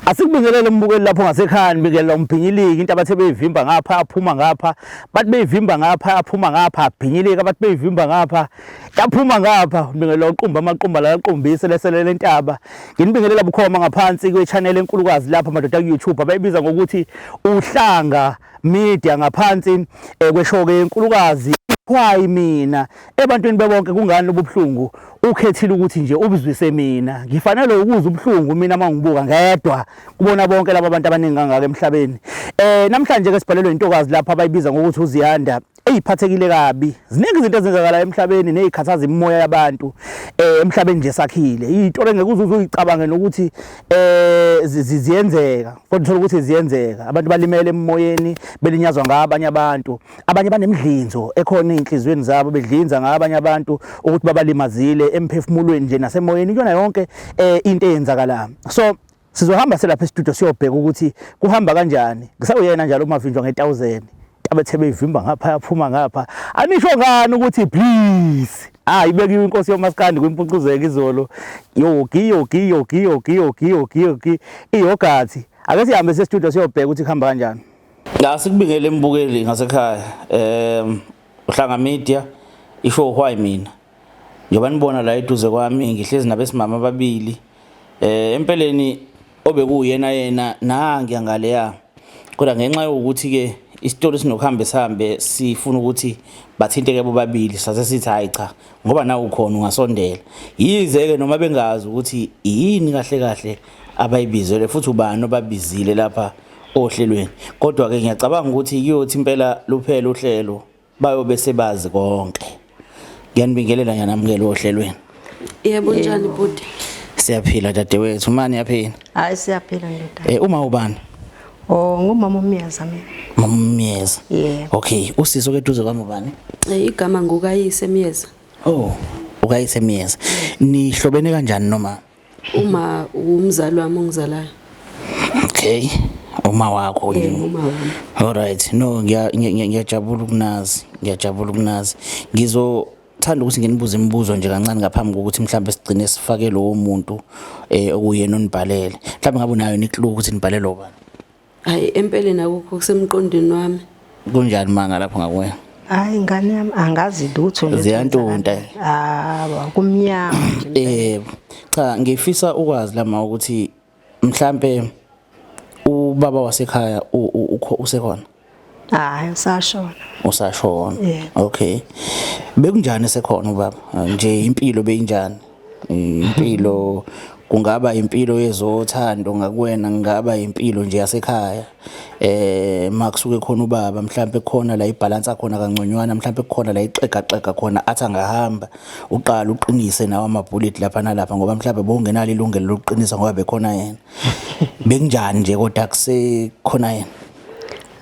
Asikubingelele umbukeli lapho ngasekhaya nibingelela umbhinyiliki into abathe beyivimba ngapha aphuma ngapha bathi beyivimba ngapha aphuma ngapha abhinyilika bathi beyivimba ngapha yaphuma ngapha nibingelela uqumba amaqumba la aqombise leselele intaba nginibingelela bukhoma ngaphansi kwe channel enkulukazi lapha madoda ku YouTube abayibiza ngokuthi uhlanga media ngaphansi eh, kweshoke enkulukazi khwayi mina Ebantwini bebonke kungani lobubuhlungu ukhethile ukuthi nje ubuzwise mina ngifanele ukuza ubuhlungu mina mangibuka ngedwa kubona bonke laba bantu abaningi kangaka emhlabeni eh namhlanje ke sibhalelwe intokazi lapha abayibiza ngokuthi uziyanda eyiphathekile kabi ziningi izinto ezenzakala emhlabeni nezikhathaza imimoya yabantu eh emhlabeni nje sakhile into engeke uzuze uyicabange nokuthi eh ziyenzeka kodwa uthola ukuthi ziyenzeka abantu balimele emoyeni belinyazwa ngabanye abantu abanye banemdlinzo ekhona ezinhlizweni zabo bedlinza ngabanye abantu ukuthi babalimazile emphefumulweni nje nasemoyeni kuyona yonke eh, into eyenzakala so sizohamba selapha estudio siyobheka ukuthi kuhamba kanjani ngisawuyena njalo umavinjwa nge1000 abethebe ivimba ngapha yaphuma ngapha anisho ngani ukuthi please Ah ibekiwe inkosi yomaskandi kwimpucuzeke izolo. Yogi yogi yogi yogi yogi yogi yogi iyogathi. Ake sihambe se studio siyobheka ukuthi kuhamba kanjani. Asikubingele mbukeli ngasekhaya um uhlanga media isho why mina njengoba nibona la eduze kwami ngihlezi nabesimama ababili um empeleni obekuyena yena nangiya ngaleya kodwa ngenxa yokuthi-ke isitolo sinokuhambe sihambe sifuna ukuthi bathinteke bobabili sase sithi hayi cha ngoba nawe ukhona ungasondela yize-ke noma bengazi ukuthi yini kahle kahle abayibizele futhi ubani obabizile lapha ohlelweni kodwa ke ngiyacabanga ukuthi kuyothi impela luphele uhlelo bayobe sebazi konke ngiyanibingelela ngiyanamukela ohlelweni yebo njani bhuti siyaphila dadewethu mani yaphila hayi siyaphila ndoda eh uma ubani Oh ngumama uMyeza mina. Mama uMyeza. Yeah. Okay, usisi okeduze kwami ubani? Eh igama ngokayise Myeza. Oh, ukayise Myeza. Nihlobene kanjani noma? uma umzali wami ongizalayo okay uma wakho nje uma wami all right no ngiyajabula ukunazi ngiyajabula ukunazi ngizo thanda ukuthi nginibuze imibuzo nje kancane ngaphambi kokuthi mhlawumbe sigcine sifake lowo muntu eh okuyena onibhalele mhlawumbe ngabe unayo nikluku ukuthi nibhalele obani Hayi empeleni akukho kusemqondweni wami. Kunjani manga lapho ngakuwe? Hayi ngane yami angazi lutho nje. Ziyantunta. Ah, kumnyama nje. Eh, cha ngifisa ukwazi lama ukuthi mhlambe ubaba wasekhaya usekhona. hayi usashona usashona yeah. okay bekunjani esekhona ubaba nje impilo beyinjani impilo kungaba impilo yezothando ngakuwena ngaba impilo nje yasekhaya eh makusuke khona ubaba mhlambe khona la ibalance khona kangconywana mhlambe khona la ixega xega khona athi angahamba uqala uqinise nawo ama bullet lapha nalapha ngoba mhlambe bongenalo ilungelo lokuqinisa ngoba bekhona yena bekunjani nje kodwa kuse khona yena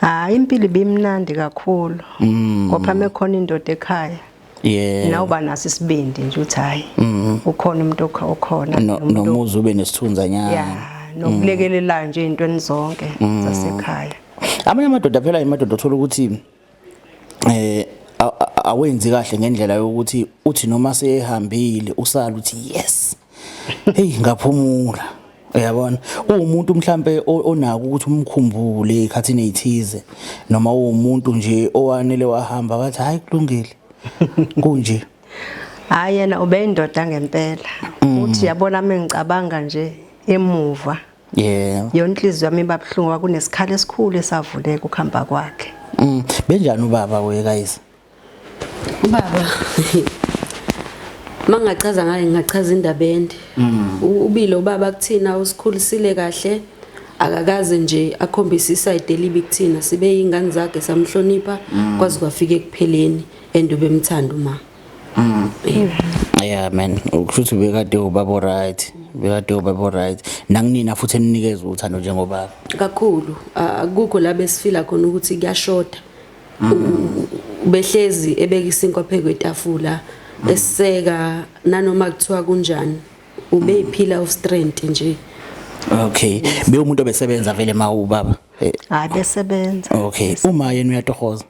hayi impilo ibimnandi kakhulu mm. ngoba mekhona indoda ekhaya yeah. nawe uba naso isibindi nje ukuthi hhayi mm. ukhona umuntu okhona nomuzi ube nesithunza nyana yeah. nokulekelelayo nje ey'ntweni zonke mm. zasekhaya amanye amadoda phela imadoda othola ukuthi eh awenzi kahle ngendlela yokuthi uthi noma seyehambile usala uthi yes hey ngaphumula uyabona uwumuntu mhlambe onako ukuthi umkhumbule ikhathini ezithize noma uwumuntu nje owanele wahamba wathi hayi kulungile kunje hayi yena ubeyindoda ngempela mm. uthi yabona mina ngicabanga nje emuva Yeah. Yona inhliziyo yami iba buhlungu kwakunesikhala esikhulu esavuleka ukuhamba kwakhe. Mm. Benjani ubaba we guys? Ubaba mangachaza ngaye ngingachaza indaba ende mm. ubile ubaba kuthina usikhulisile kahle akakaze nje akhombise isayide elibi kuthina sibe yingane zakhe samhlonipha mm. kwaze kwafika ekupheleni and ubemthanda uma Mm. Yeah man, ukushuthi bekade ubaba right. Bekade ubaba right. Nanginina futhi eninikeza uthando njengobaba. Kakhulu akukho la besifila khona ukuthi kuyashoda. Mm. Behlezi ebeka isinkwa phezu kwetafula mm. eseka nanoma kuthiwa kunjani. Ubeyiphila of strength nje. Okay. Be umuntu obesebenza vele ma ubaba. Hayi besebenza. Okay. Uma yena uyatohoza.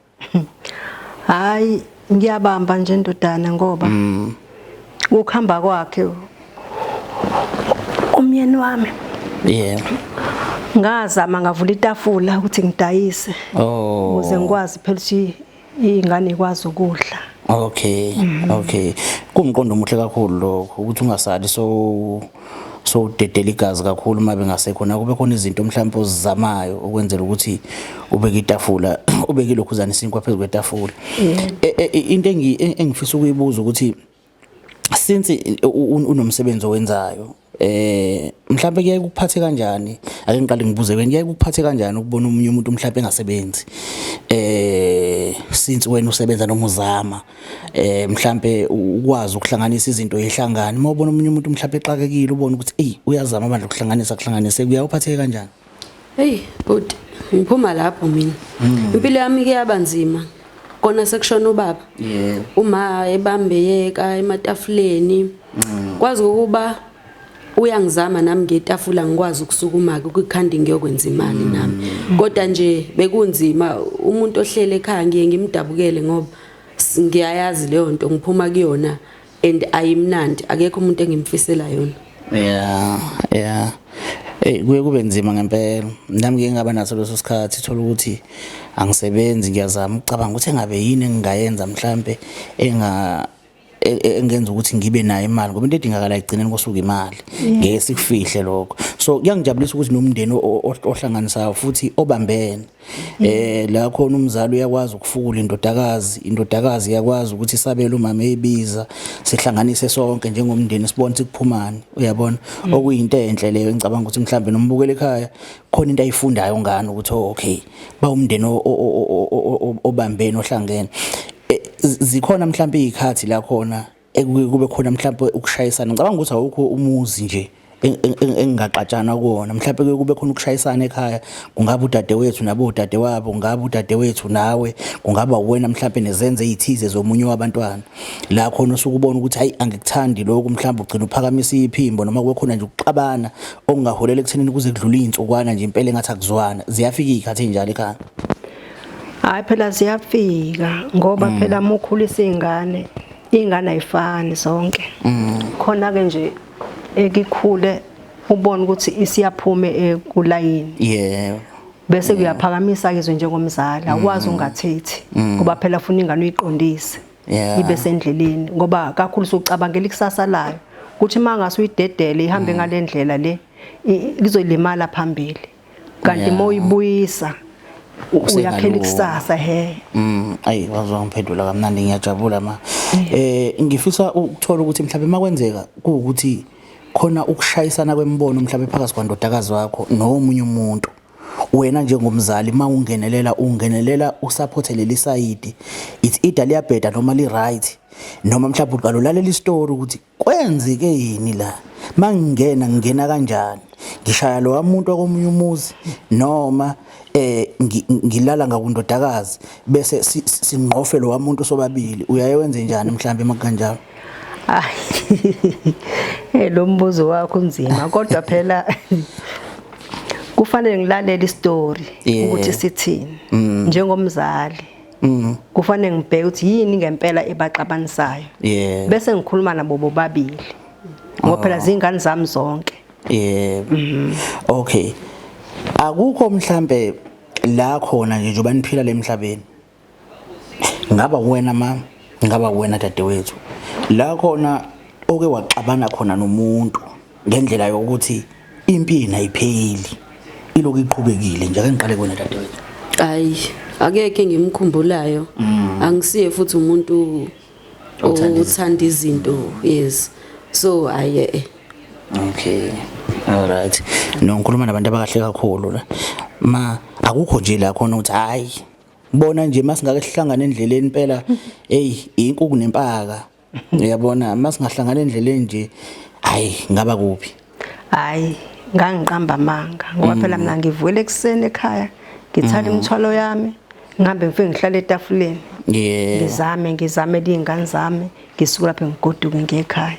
hayi ngiyabamba nje ndodana ngoba mm. ukuhamba kwakhe umyeni wami yeah ngazama ngavula itafula ukuthi ngidayise oh. ukuze ngikwazi phela ukuthi ingane ikwazi ukudla okay mm. okay kumqondo omuhle kakhulu lokho ukuthi ungasali so so udedela igazi kakhulu uma bengasekhona kube khona izinto mhlawumbe ozizamayo ukwenzela ukuthi ubeke itafula ubeke lokhuzana isinkwa phezu kwetafula e, e, e, into engifisa ukuyibuza ukuthi since unomsebenzi owenzayo eh mhlawumbe kuyaye kuphathe kanjani ake ngiqale ngibuze wena kuyaye kuphathe kanjani ukubona umunye umuntu mhlawumbe engasebenzi eh since wena usebenza noma uzama eh mhlambe ukwazi ukuhlanganisa izinto yehlangani uma ubona umunye umuntu mhlambe exakekile ubona ukuthi ey uyazama manje ukuhlanganisa kuhlanganise kuyawuphatheke kanjani hey but ngiphuma lapho mina hmm. impilo yami ke yabanzima kona sekushona ubaba uma ebambeyeka ematafuleni hmm. kwazi ukuba uyangizama nami ngetafula ngikwazi ukusukuma ke kwikhandi ngiyokwenza imali mm. nami kodwa nje bekunzima umuntu ohlele ekhaya ngiye ngimdabukele ngoba ngiyayazi leyo nto ngiphuma kuyona and ayimnandi akekho umuntu engimfisela yona yeah yeah Eh kuye kube nzima ngempela. Nami ngeke ngaba naso leso sikhathi thola ukuthi angisebenzi ngiyazama ukucabanga ukuthi engabe yini engingayenza mhlambe enga e, e, engenza ukuthi ngibe nayo imali ngoba into edingakala ekugcineni kosuku imali ngeke sikufihle lokho so kuyangijabulisa ukuthi nomndeni ohlanganisayo futhi obambene eh la khona umzali uyakwazi ukufukula indodakazi indodakazi iyakwazi ukuthi isabele umama eyibiza sihlanganise sonke njengomndeni sibone sikuphumani uyabona mm. okuyinto enhle leyo engicabanga ukuthi mhlambe nombukele ekhaya khona into ayifundayo ngani ukuthi oh, okay bawumndeni obambene ohlangene eh, zikhona mhlawumbe izikhathi la khona ekube khona mhlawumbe ukushayisana ngicabanga ukuthi awukho umuzi nje engingaxatshana kuwona mhlawumbe kuye kube khona ukushayisana ekhaya kungaba udadewethu nabo udadewabo kungaba udadewethu nawe kungaba uwena mhlawumbe nezenze ezithize zomunye wabantwana la khona usuke ubona ukuthi hayi angikuthandi lokhu mhlawumbe ugcina uphakamisa iphimbo noma kube khona nje ukuxabana okungaholela ekuthenini kuze kudlule iy'nsukwana nje impela engathi akuzwana ziyafika iy'khathi ey'njalo ekhaya hhayi phela ziyafika ngoba mm. phela uma ukhulisa iy'ngane iy'ngane ayifani zonke mm. khona-ke nje ekikhule ubone ukuthi isiyaphume ekulayini yebo bese kuyaphakamisa izwe njengomzali awukwazi mm. ungathethi mm. ngoba phela funa ingane uyiqondise ibe sendleleni ngoba kakhulu sokucabangela ikusasa layo ukuthi uma ngase uyidedele ihambe mm. ngale ndlela le lizolimala phambili kanti uma uyibuyisa uyakhela ikusasa he mm ayi wazwa ngiphendula kamnandi ngiyajabula ma eh ngifisa ukuthola ukuthi mhlawumbe makwenzeka ukuthi khona ukushayisana kwemibono mhlawumbe phakathi kwandodakazi wakho nomunye umuntu wena njengomzali mawungenelela ungenelela usupport leli side it's either liyabheda noma li right noma mhlawumbe uqala ulalela istory ukuthi kwenzeke yini la mangingena ngingena kanjani ngishaya lo wamuntu wakomunye umuzi noma eh ngilala ngakundodakazi bese singqofe lo wamuntu sobabili uyaye wenze njani mhlawumbe makanjalo Eh lo mbuzo wakho unzima kodwa phela kufanele ngilalele istory ukuthi sithini mm. njengomzali. Mm. Kufanele ngibheke ukuthi yini ngempela ebaxabanisayo. Bese ngikhuluma nabo bobabili. Ngoba phela oh. zingane zami zonke. Yebo. Mm-hmm. Okay. Akukho mhlambe la khona nje njoba niphila lemhlabeni. ngaba wena mama ngaba wena dadewethu la khona oke waxabana khona nomuntu ngendlela yokuthi impini ayipheli iloku iqhubekile nje ake ngiqale kuwena dadewethu ayi akekho engimkhumbulayo mm. angisiye futhi umuntu othanda izinto yes so aye eh. okay all right no ngikhuluma nabantu abakahle kakhulu la ma akukho nje la khona ukuthi hayi Ngibona nje masingake sihlangane endleleni impela hey inkuku nempaka. Uyabona masingahlangana endleleni nje hayi ngaba kuphi. Hayi ngangiqamba amanga ngoba phela mm. mina ngivuyele ekuseni ekhaya ngithatha mm. imithwalo yami ngihambe ngifike ngihlale etafuleni ngizame ngizame liy'ngane zami ngisuke lapho ngigoduke ngiye ekhaya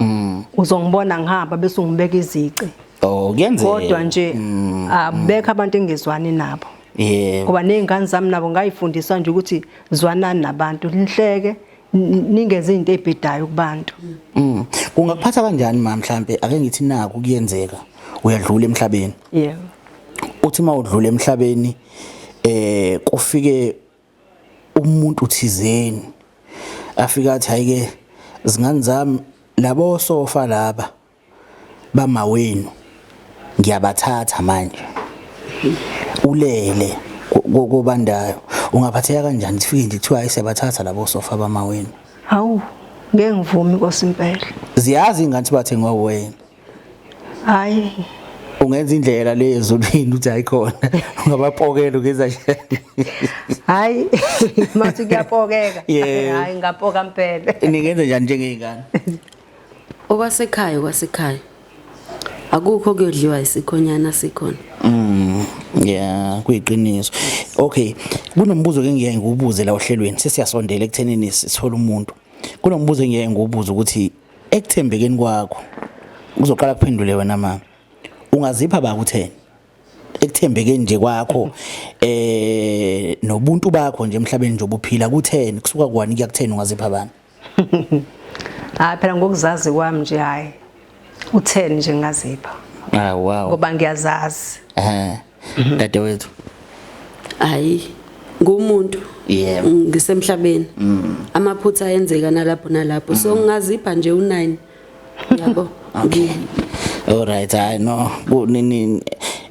mm. uzongibona ngihamba bese ungibeka izici oh kuyenzeka kodwa nje mm. abekho abantu engizwani nabo yebo ngoba nezingane zami nabo ngayifundiswa nje ukuthi zwanani nabantu nihleke ningenze into ebhedayo kubantu mm. ungakuphatha kanjani mama mhlambe ake ngithi naku kuyenzeka uyadlula emhlabeni yebo uthi uma udlula emhlabeni eh kufike umuntu thizeni afika athi hayike zingane zami labo sofa laba bamawenu ngiyabathatha manje ulele kobandayo ungaphatheka kanjani sifike nje kuthiwa ayisebathatha labo sofa bamawenu hawu ngeke ngivumi nkosi impela ziyazi ingane sibathe ngowena hayi ungenza indlela le ezulwini uthi ayikhona ungabapokela ugeza hayi mathi kuyapokeka hayi ngapoka mpela ningenza njani njengey'ngane okwasekhaya okwasekhaya akukho kuyodliwa isikhonyana sikhona mm yeah kuyiqiniso okay kunombuzo ke ngiyaye ngiwubuze la ohlelweni sesiyasondela ekuthenini sithola umuntu Kunombuzo engiyeke ngiwubuze ukuthi ekuthembekeni kwakho uzoqala kuphendule wena mama. Ungazipha ba kutheni? ekuthembekeni nje kwakho eh nobuntu bakho nje emhlabeni nje obuphila kutheni kusuka kwani kuyakutheni ungazipha bani Ah phela ngokuzazi kwami nje hayi Utheni nje ngazipha? Ah wow. Ngoba ngiyazazi. Eh. Mhm. Dadewethu. Hayi ngumuntu yebo ngisemhlabeni mm. amaphutha ayenzeka nalapho nalapho so mm. ngazipha nje u9 yabo okay all right i know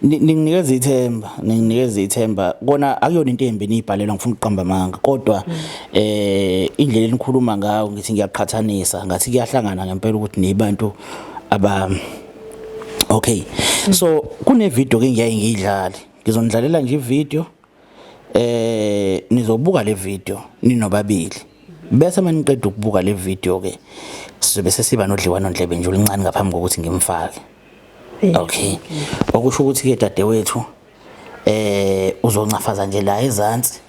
ninginikeza ithemba ninginikeza ithemba kona akuyona into embi niyibhalelwa ngifuna ukuqamba amanga kodwa mm. eh indlela enikhuluma ngayo ngithi ngiyaqhathanisa ngathi kuyahlangana ngempela ukuthi nibantu aba okay so kune video ke ngiyaye ngiyidlale ngizonidlalela nje video eh nizobuka le video ninobabili bese maniqeda ukubuka le video ke sizobe sesiba nodliwano ndlebe nje ulincane ngaphambi kokuthi ngimfake okay okusho ukuthi ke dadewethu eh uzoncafaza nje la ezantsi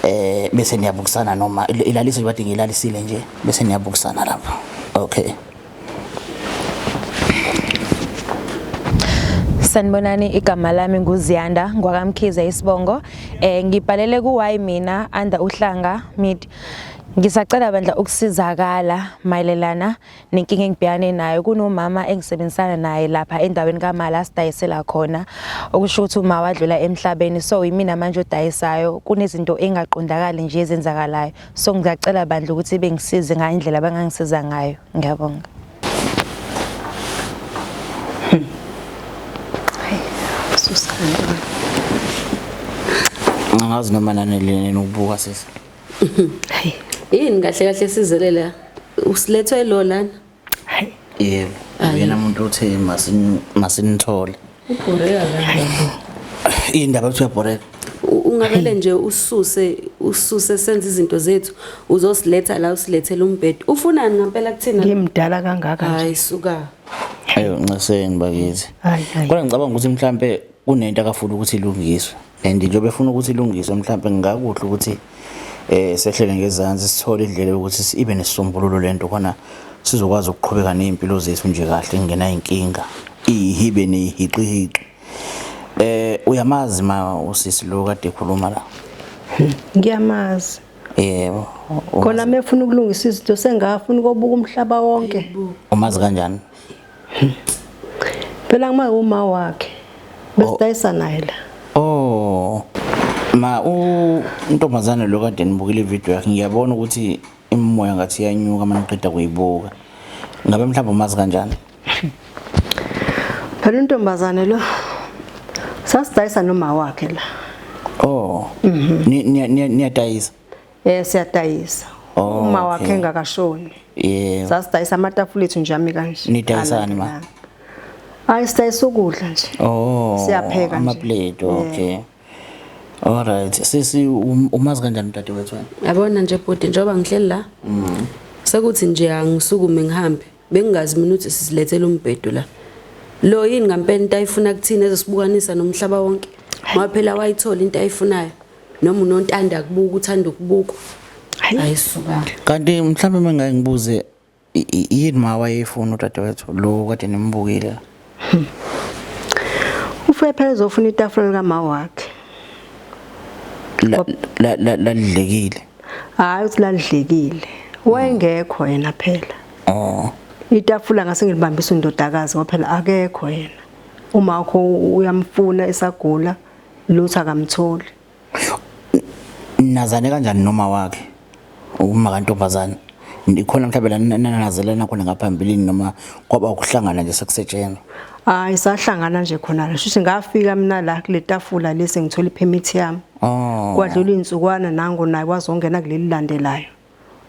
eh bese niyabukisana noma ilalise nje bathi ngilalisile nje bese niyabukisana lapha okay Sanibonani igama lami nguZiyanda ngwakamkhiza isibongo eh ngibhalele ku Y mina under uhlanga mid ngisacela bandla ukusizakala mayelelana nenkinga engibhekane nayo kunomama engisebenzisana naye lapha endaweni kamali asidayisela khona okusho ukuthi uma wadlula emhlabeni so yimina manje odayisayo kunezinto engaqondakali nje ezenzakalayo so ngiyacela bandla ukuthi bengisize ngayo indlela abangangisiza ngayo ngiyabonga ngazi noma nanelene nokubuka sisi yini kahle kahle sizelela usilethwe lo lana yebo uyena muntu othe masinithole ubhoreka kanjani indaba ukuthi uyabhoreka ungavele nje ususe ususe senze izinto zethu uzosiletha la usilethele umbhedo ufunani ngempela kuthina ngimdala kangaka hayi suka ayo ncaseni bakithi kodwa ngicabanga ukuthi mhlambe kunento akafuna ukuthi ilungiswe and njengoba efuna ukuthi ilungiswe mhlawumbe ngingakuhle ukuthi eh sehlele ngezansi sithole indlela yokuthi ibe nesisombululo lento khona sizokwazi ukuqhubeka nezimpilo zethu nje kahle ingena inkinga ihibe nehiqihiqi eh uyamazi ma usisi lo kade ekhuluma la ngiyamazi yebo khona mefuna ukulungisa izinto sengafuna kobuka umhlaba wonke umazi kanjani phela uma uma wakhe besidayisa naye la oh ma u ntombazane lo kade nibukile ivideo yakhe ngiyabona ukuthi imimoya ngathi iyanyuka uma niqeda kuyibuka ngabe mhlawumbe umazi kanjani phela untombazane lo sasidayisa noma wakhe la oh mhm. niyadayisa Eh siyadayisa. Oh, Uma okay. wakhe engakashoni. Yeah. Sasidayisa amatafula ethu nje ami kanje. Nidayisani ma? Alandelana. Hayi sidayisa ukudla nje. Oh. Siyapheka nje. Amaplate, okay. Alright. Sisi um- umazi kanjani udade wethu? wena? Yabona nje bhuti njengoba ngihleli la. Sekuthi nje angisukume ngihambe. Bengingazi mina ukuthi sizilethela umbhedo la. Lo yini ngampela into ayifuna kuthina ezosibukanisa nomhlaba wonke. Ngoba phela wayithola into ayifunayo. Noma unontanda kubuka uthanda ukubukwa. Hayi suka. Kanti mhlawumbe mangake ngibuze i- i- yini ma wayefuna udadewethu lo kade nimbukile. Ufuye phela uzofuna itafula lika ma wakhe. La la la lalidlekile. Hayi uthi lalidlekile. Wayengekho yena phela. Oh. Itafula ngase ngilibambisa undodakazi waphela akekho yena. Uma wakho uyamfuna esagula lutho akamtholi. nazane kanjani noma wakhe uma kantombazane ikhona mhlawumbe la nanazelana khona ngaphambilini noma kwaba ukuhlangana nje sekusetshenzwa hayi sahlangana nje khona la shuthi ngafika mina la kule tafula lesi ngithola ipermit yami oh. kwadlula izinsukwana nango naye wazongena kuleli landelayo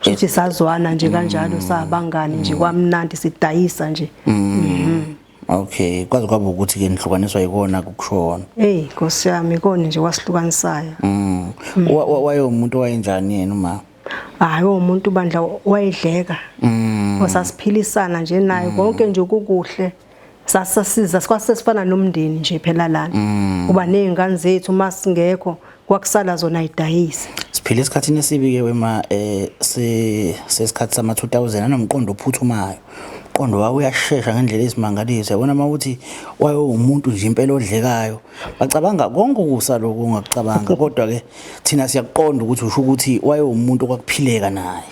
Shuthi sazwana nje kanjalo mm. sabangani nje mm. kwamnandi sidayisa nje. Mm. Mm-hmm. Okay, kwaze kwaba ukuthi ke nihlukaniswa yikona kukushona. Hey, Nkosi yami ikona nje wasihlukanisayo. Mm. mm. Waye umuntu wayenjani yena uma? Hayi umuntu bandla wayedleka. Mm. Wasasiphilisana nje naye konke nje ukukuhle. sasasiza sikwase sifana nomndeni nje phela lana mm. uba nezingane zethu uma singekho kwakusala zona idayise siphila esikhathini esibi ke wema eh sesikhathi sama 2000 anomqondo ophuthumayo umqondo wawo uyashesha ngendlela ezimangalisa yabona uma ukuthi wayo umuntu nje impela odlekayo bacabanga konke ukusa lokho ungakucabanga kodwa ke thina siyakuqonda ukuthi usho ukuthi wayo umuntu okwakuphileka naye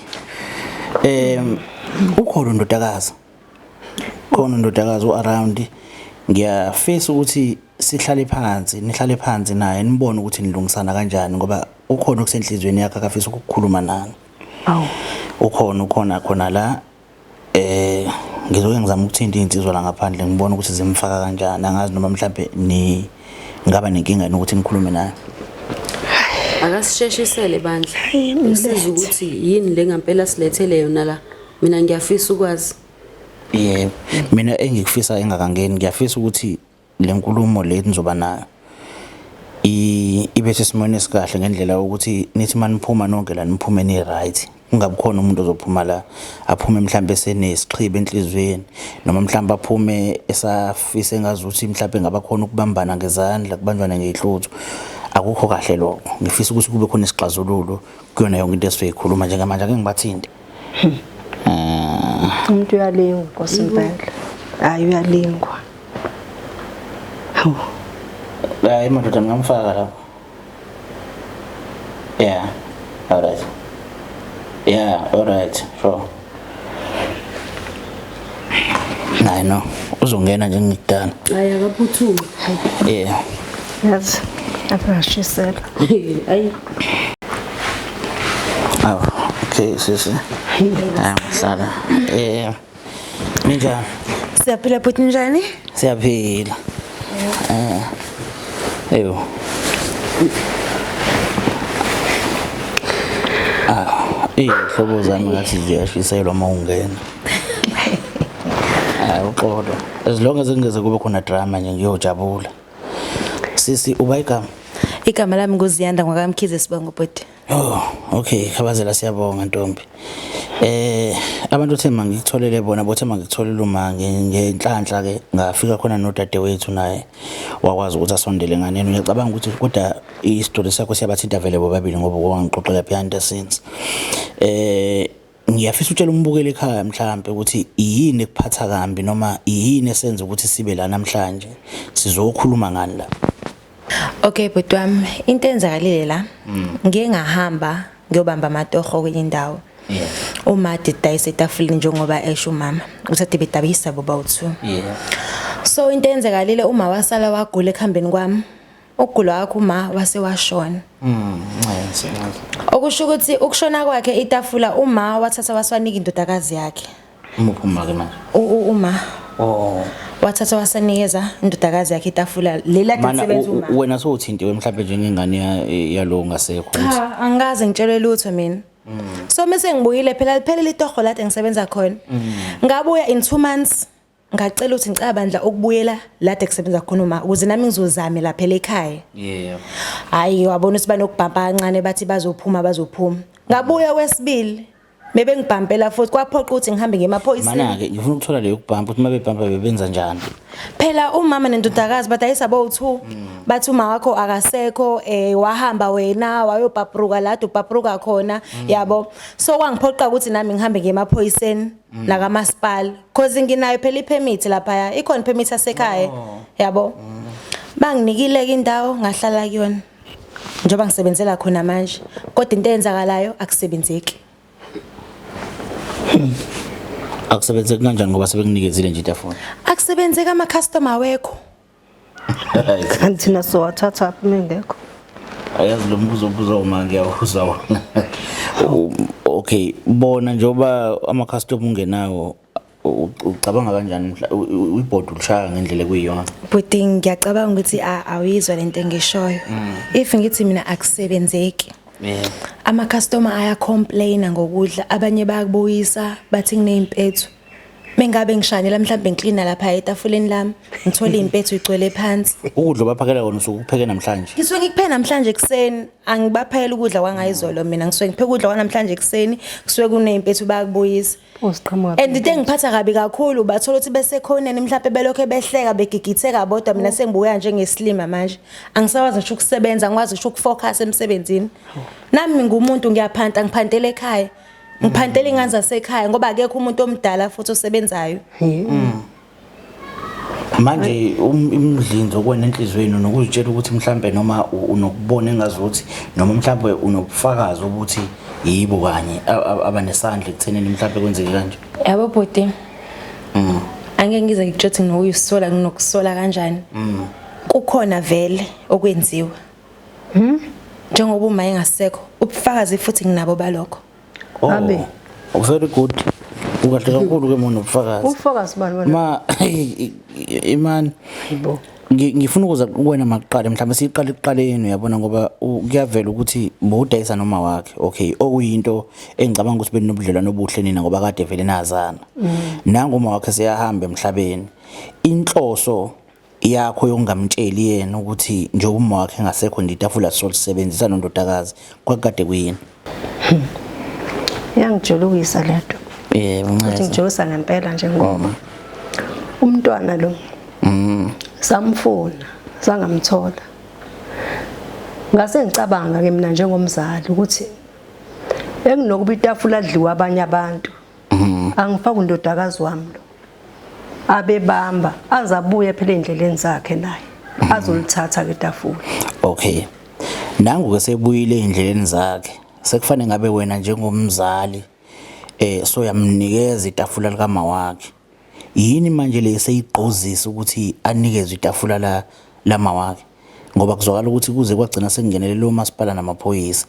em ukholo ndodakazi khona undodakazi u-around ngiyafisa ukuthi sihlale phansi nihlale phansi naye nibone ukuthi nilungisana kanjani ngoba ukhona okusenhlizweni yakhe akafisa ukukhuluma nani awu ukhona ukhona khona la eh ngizoke ngizama ukuthinta izinsizwa la ngaphandle ngibone ukuthi zimfaka kanjani angazi noma mhlambe ni ngaba nenkinga yini ukuthi nikhulume naye akasisheshisele bandla usiza ukuthi yini le ngampela silethele yona la mina ngiyafisa ukwazi yebo mina engikufisa engakangeni ngiyafisa ukuthi le nkulumo le nizoba nayo ibe sesimweni esikahle ngendlela ukuthi nithi maniphuma nonke la niphume ni right kungabi khona umuntu ozophuma la aphume mhlawumbe senesixhibe enhlizweni noma mhlawumbe aphume esafise ngazuthi mhlawumbe ngaba khona ukubambana ngezandla kubanjwana ngeyhluthu akukho kahle lokho ngifisa ukuthi kube khona isixazululo kuyona yonke into esizoyikhuluma njengamanje ake ngibathinte umuntu uyalingwa nkosi impela hayi uyalingwa hawu hayi madoda ngingamfaka lapho yeah alright yeah alright sure Naye no, uzongena nje ngidala. Hayi akaphuthume. Yeah. Yazi akungashisela. Hayi. Aw, okay sisi. Hayi mhlala. Yeah. Ninjani? Siyaphila bhuti njani? Siyaphila. Eh. Eyo. Ah, ihlobo zami ngathi ziyashiselwa uma ungena. hayi uxolo as long as kungeze kube khona drama nje ngiyojabula sisi uba igama igama lami nguziyanda ngwakamkhize sibongo bhuti oh okay khabazela siyabonga ntombi eh abantu othe mangikutholele bona bothe mangikutholele uma ngenhlanhla ke ngafika khona nodadewethu naye wakwazi ukuthi asondele nganeno ngiyacabanga ukuthi kodwa i-story sakho siyabathinta vele bobabili ngoba kwangixoxela behind the scenes eh Ngiyafisa utshela umbukeli ekhaya mhlampe ukuthi yini ekuphatha kambi noma yini esenza ukuthi sibe la namhlanje. Sizokhuluma ngani la? Okay bhuti wami, into enzakalile la. Mm. Ngiye ngahamba ngiyobamba amatoho kwenye indawo. Yeah. Uma didayisa etafuleni njengoba esho umama, usathi bedabisa boba u2. Yeah. So into enzakalile uma wasala wagula ekhambeni kwami. Ukugula kwakhe uma wase washona. Mm, nxese. Okusho ukuthi ukushona kwakhe itafula uma wathatha waswanika indodakazi yakhe. Umuphi uma ke manje? Uma. Oh. wathatha wasanikeza indodakazi yakhe itafula lela lisebenza uma wena sowuthintiwe mhlawumbe njengengane yalo ngasekho cha angikaze ngitshelwe lutho mina mm. so mase ngibuyile phela liphele litoho lade ngisebenza khona mm. ngabuya in 2 months ngacela ukuthi ngicela bandla ukubuyela lade kusebenza khona uma ukuze nami ngizozame lapha ekhaya yeah hayi wabona ukuthi banokubhampa kancane bathi bazophuma bazophuma ngabuya kwesibili bebe ngibhampela futhi kwaphoqa ukuthi ngihambe ngemaphoyisini mana-ke ngifuna ukuthola leyo kubhampa ukuthi uma bebhampa bebenza njani phela umama nendodakazi badayisa bowu-two mm. bathi uma wakho akasekho um wahamba wena wayobhabhruka lade ubhabhruka khona mm. yabo so kwangiphoqa ukuthi nami ngihambe ngemaphoyiseni mm. nakamasipala cause nginayo phela ipermit lapha ikhona ipermit yasekhaya oh. yabo mm. banginikile ke indawo ngahlala kuyona njengoba ngisebenzela khona manje kodwa into eyenzakalayo akusebenzeki hmm. akusebenzeki kanjani ngoba sebekunikezile nje itafona akusebenzeki ama customer wekho kanti thina sowathatha aphi uma engekho ayazi lo mbuzo obuza uma ngiyawuza wona okay bona njengoba ama-custom ungenawo u- ucabanga kanjani mhla- u- u- ibhodi ulishaya ngendlela ekuyiyona bhuti ngiyacabanga ukuthi a- awuyizwa le nto engishoyo if ngithi mina akusebenzeki yeah. ama-customer ayacomplaina ngokudla abanye bayakubuyisa bathi kuney'mpethu Mengabe ngishanyela mhlawumbe ngiklina lapha etafuleni lami, ngithola impethu igcwele phansi. Ukudla obaphakela kona usuke ukupheke namhlanje. Ngisuke ngikupheke namhlanje ekuseni, angibaphayela ukudla kwangayizolo mina. Ngisuke ngipheke ukudla kwanamhlanje ekuseni, kusuke kuney'mpethu bayakubuyisa. Uziqhamuka And into engiphatha kabi kakhulu bathola ukuthi besekhoneni mhlawumbe belokhu behleka begigitheka bodwa mina sengibukeka njengesilima manje angisakwazi ngisho ukusebenza angikwazi ngisho ukufocus emsebenzini nami ngingumuntu ngiyaphanta ngiphantela ekhaya ngiphantela ingane zasekhaya ngoba akekho umuntu omdala futhi osebenzayo mm. manje um, imdlinzo kwena enhlizweni nokuzitshela ukuthi mhlambe noma unokubona engazi ukuthi noma mhlambe unokufakazi ukuthi yibo kanye abanesandla ekuthenini mhlambe kwenzeke kanje yabo bhuti mm. angeke ngize ngikutshothi nokuyisola nginokusola kanjani mm. kukhona vele okwenziwa Hmm? Njengoba uma engasekho, ubufakazi futhi nginabo balokho. Oh, Abe. Oh, very good. Ukahle kakhulu ke mona ubufakazi. Ubufakazi bani wena? Ma imani. Yibo. ngifuna ukuza kuwena makuqale mhlawumbe siyiqale ekuqaleni uyabona ngoba kuyavela ukuthi bowudayisa noma wakhe okay okuyinto engicabanga ukuthi benobudlelwano obuhle nina ngoba kade vele nazana mm. nangu uma wakhe seyahamba emhlabeni inhloso yakho yokungamtsheli yena ukuthi njengoba uma wakhe engasekho nje itafula sizolisebenzisa nondodakazi kwakukade kuyini yangijulukisa le nto yebo ukuthi ncese ngijulisa ngempela nje ngoba umntwana lo Mm. samfuna sangamthola ngase ngicabanga ke mina njengomzali ukuthi bekunokuba itafula adliwa abanye abantu Mhm. angifaka undodakazi wami lo abebamba azabuye phela endleleni zakhe naye mhm. azolithatha ke tafula okay nangu ke sebuyile endleleni zakhe sekufanele ngabe wena njengomzali eh so yamnikeza itafula likama wakhe yini manje le seyigqozisa ukuthi anikezwe itafula la lama wakhe ngoba kuzwakala ukuthi kuze kwagcina sekungenelele umasipala namaphoyisa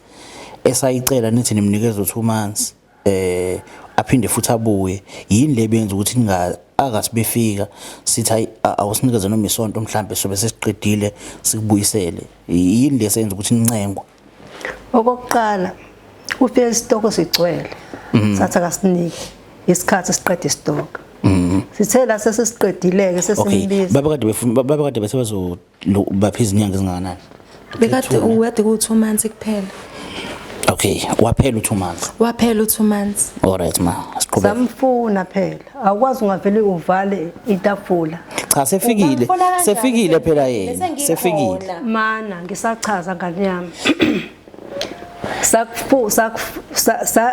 esayicela nithi nimnikeza u2 months eh aphinde futhi abuye yini le benza ukuthi ninga akathi befika sithi hayi awusinikeze noma isonto mhlambe sobe sesiqedile sikubuyisele yini lesenza ukuthi nincengwe okokuqala ufike isitoko sigcwele mm. sathi akasinike isikhathi siqeda isitoko mm. sithe la sesisiqedileke sesimbiza babekade befuna babekade bese bazo Lo baphi izinyanga ezingakanani? Bekade uwede ku 2 months kuphela. Okay, waphela u2 months. Waphela u2 months. Alright ma, siqhubeke. Samfuna phela. Awukwazi ungavele uvale itafula. Cha sefikile, sefikile phela yena. Sefikile. Mana ngisachaza ngane yami. Sakuphu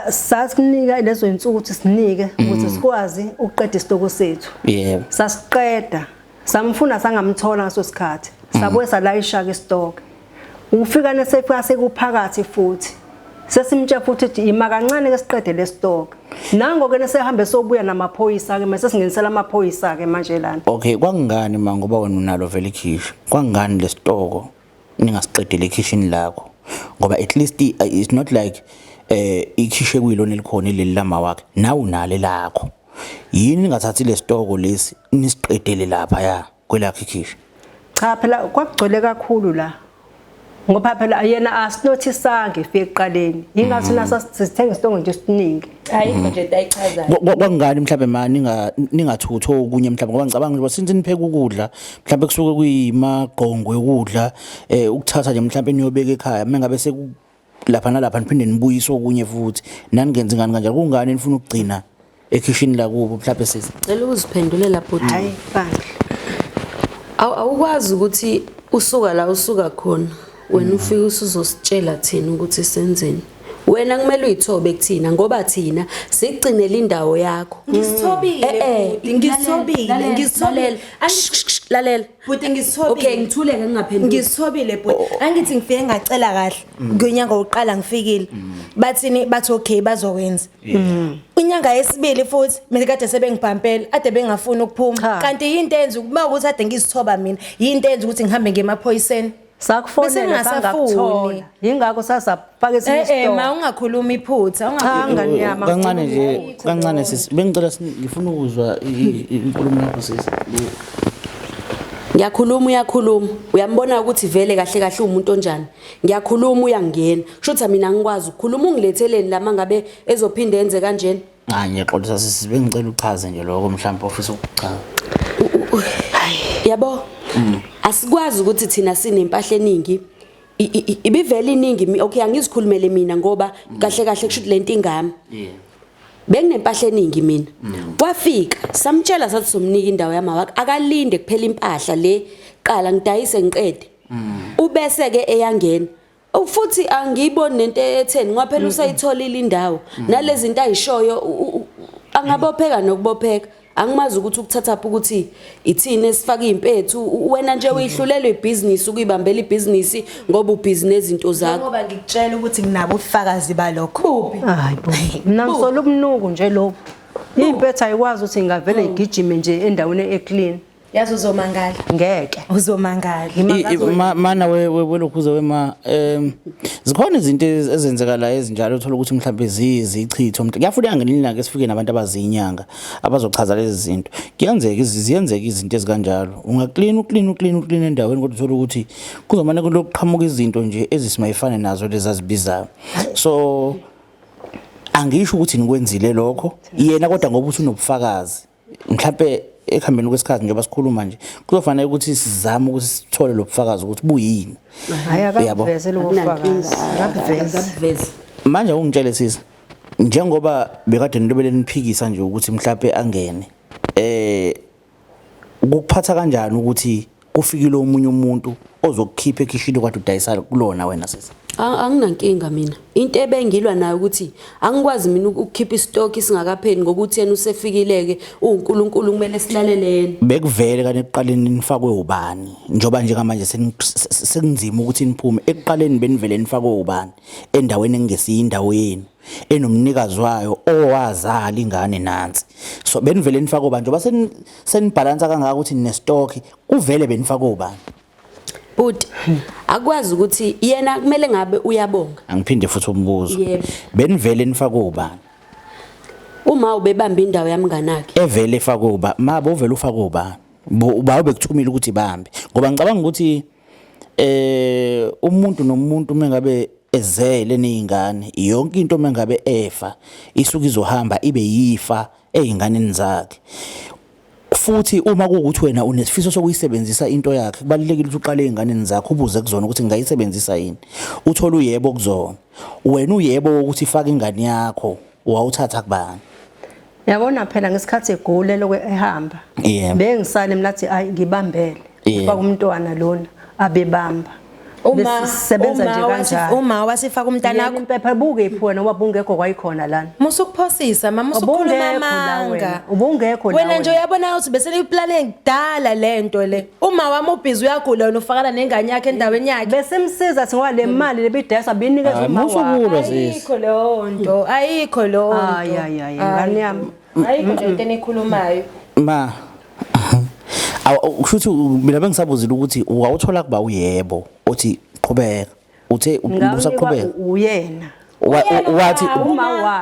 sasinika lezo insuku ukuthi sinike ukuthi mm. sikwazi ukuqeda isitoko sethu. Yebo. Sasiqeda. samfuna sangamthola ngaso sikhathi sabuye salayishaka isitoke ufika nesefika sekuphakathi futhi sesimtshe futhi ukuthi ima kancane ke siqede lesitoke nango ke nesehambe sobuya namaphoyisa ke mase singenisela amaphoyisa ke manje lana okay kwangani ma ngoba wena unalo vele ikhishi kwangani lesitoko ningasiqedile ekhishini lakho ngoba at least it's not like eh ikhishe kuyilona elikhona ileli lama wakhe nawu nale lakho yini ningathathi lesitoko lesi nisiqedele lapha ya kwelakhe khisha cha phela kwakugcwele kakhulu la ngoba phela yena asinothisange ifike ekuqaleni yingathi mm. nasa sithenga isitongo nje siningi ayikho mm. nje ayichazayo kwakungani mhlawumbe ma ningathuthi okunye mhlawumbe ngoba ngicabanga ukuthi since nipheka ukudla mhlawumbe kusuke kuyimagqongo yokudla um ukuthatha nje mhlawumbe niyobeka ekhaya uma ngabe lapha nalapha niphinde nibuyise okunye futhi naningenzi ngani kanjalo kungani nifuna ukugcina ekhishini lakubo mhlawumbe sisi cela ukuziphendulela bhuti hayi bandla awu awukwazi ukuthi usuka la usuka khona wena ufike usuzositshela thina ukuthi senzeni wena kumele uyithobe kuthina ngoba thina sigcinele indawo yakho ngisithobile eh, eh, ngisithobile ngisithobile lalela Bhuti ngisithobile. Okay ngithuleke ngingaphendula. Ngisithobile bhuti. Oh, oh. Angithi ngifike ngacela kahle. Mm. Ngonyaka wokuqala ngifikile. Mm. Bathini bathi okay bazokwenza. Mm. Unyanga yesibili futhi mina kade sebengibhampela ade bengafuni ukuphuma. Kanti yinto enza ukuba ukuthi ade ngizithoba mina. Yinto enza ukuthi ngihambe ngemaphoyiseni. sakufonela sangakuthola yingakho sasapaka esinye eh, eh, isitolo eh ma ungakhuluma iphutha ungakhuluma kancane nje kancane sisi bengicela ngifuna ukuzwa inkulumo yakho sisi ngiyakhuluma uyakhuluma uyambona ukuthi vele kahle kahle umuntu onjani ngiyakhuluma uyangena kusho ukuthi mina ngikwazi ukukhuluma ungiletheleni lama ngabe ezophinde enze kanjena Hayi ngiyaxolisa sisi bengicela uchaze nje lokho mhlawumbe ofisa ukuchaza. Yabo? Mm. Asikwazi ukuthi thina sinempahla eningi. Ibivele iningi okay angizikhulumele mina ngoba mm. kahle kahle kushuthi lento ingami. Yeah. benginempahla eningi mina mm. kwafika samtshela sathi somnika indawo yamawakhe akalinde kuphela impahla le qala ngidayise ngiqede mm. ubese ke eyangena Oh, futhi angiyiboni nento etheni ngoba phela usayitholile indawo nalezi zinto ayishoyo u- u- u- angabopheka nokubopheka angimazi ukuthi ukuthatha phi ukuthi ithini esifaka impethu U- wena nje uyihlulelwe ibhizinisi ukuyibambela ibhizinisi ngoba ubhizi nezinto zakho ngoba ngikutshela ukuthi nginabo ubufakazi balokho hayi bo mina ngisola ubunuku nje lobu impetha ayikwazi ukuthi ingavele igijime nje endaweni eclean yazi uzomangala ngeke uzomangala mana welokhuza wema um zikhona izinto ezenzeka la ezinjalo uthola ukuthi mhlawumbe ziyizichitho kuyafuneka ngelinye ilanga esifike nabantu abaziyinyanga abazochaza lezi zinto kuyenzeka ziyenzeka izinto ezikanjalo ungaklina uklina uklina uklina endaweni kodwa uthola ukuthi kuzomane kulokuqhamuka izinto nje ezisimayifane nazo lezi azibizayo so angisho ukuthi nikwenzile lokho yena kodwa ngoba usunobufakazi mhlawumbe ekuhambeni kwesikhathi njengoba sikhuluma nje kuzofanele ukuthi sizame ukuthi sithole lo bufakazi ukuthi buyini hayi akaveze lobo bufakazi akaveze manje ungitshele sisi njengoba bekade nilobele niphikisa nje ukuthi mhlawumbe angene eh ukuphatha kanjani ukuthi kufikile omunye umuntu ozokukhipha ekhishini kwathi udayisa kulona wena sisi anginankinga mina into ebengilwa nayo ukuthi angikwazi mina ukukhipha istock isingakapheli ngokuthi yena usefikileke uNkulunkulu kumele silalele yena bekuvele kanti ekuqaleni nifakwe ubani njoba njengamanje sekunzima ukuthi niphume ekuqaleni benivele nifakwe ubani endaweni engesiyi indawo yenu enomnikazi wayo owazala ingane nansi so benivele nifaka obani njengoba senibhalansa kangaka ukuthi ninestock kuvele benifaka obani bhuti akwazi ukuthi yena kumele ngabe uyabonga angiphinde futhi umbuzo benivele nifaka obani uma ubebamba indawo yamnganakhe evele efaka uba mabo uvele ufaka ubani uba ubekuthumile ukuthi bambe ngoba ngicabanga ukuthi eh umuntu nomuntu mengabe ezele nezingane yonke into mengabe efa isuke izohamba ibe yifa ezinganeni zakhe futhi uma kuwukuthi wena unesifiso sokuyisebenzisa into yakhe kubalulekile ukuthi uqale ezinganeni zakho ubuze kuzona ukuthi ngingayisebenzisa yini uthole uyebo kuzona wena uyebo ukuthi faka ingane yakho wawuthatha kubani yabona phela ngesikhathi egule lokwe ehamba yeah. bengisale mina athi ayi ngibambele yeah. kwakumntwana lona abebamba uma sebenza nje kanjani uma wasifaka umntana wakho impepha buke iphona ngoba bungekho kwayikhona lana musu kuphosisa mama usukhuluma amanga ubungekho wena nje uyabona ukuthi bese liplane kudala lento le Uma wami ubhizi uyagula wena ufakana nengane yakhe endaweni yakhe. Besimsiza singoba le mali lebidayisa binikeza Hayi, uma musa wakhe. ukulwa sisi. Ayikho leyo nto, ayikho leyo nto. Ay, ay, ay, ngane yami. Ayikho nje into enikhulumayo. Ma. Awu kusho ukuthi mina bengisabuzile ukuthi wawuthola kuba uyebo othi qhubeka. uthe usaqhubeka uyena wathi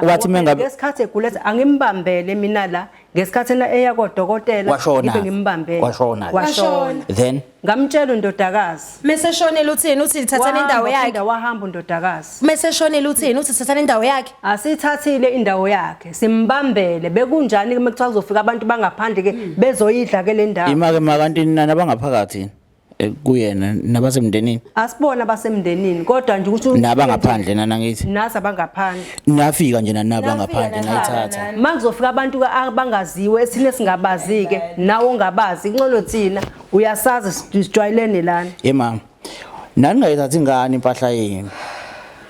wathi mengabe ngesikhathi egulethe angimbambele mina la ngesikhathi na eya kodokotela ngibe ngimbambele washona washona then ngamtshela undodakazi mese shonela uthini uthi lithathana indawo yakhe wahamba undodakazi mese shonela uthini uthi thathana indawo yakhe asithathile indawo yakhe simbambele bekunjani ke mekuthiwa kuzofika abantu bangaphandle ke bezoyidla ke le ndawo imake makantini nani abangaphakathi eh, kuyena nabasemndenini asibona abasemndenini kodwa nje ukuthi naba ngaphandle nana ngithi nasi abangaphandle nafika nje nanaba ngaphandle nayithatha manje kuzofika abantu ka- abangaziwe esine singabazi ke nawe ongabazi incono thina uyasazi sij- sijwayelene lana ye mama naningayithathi ingane impahla yenu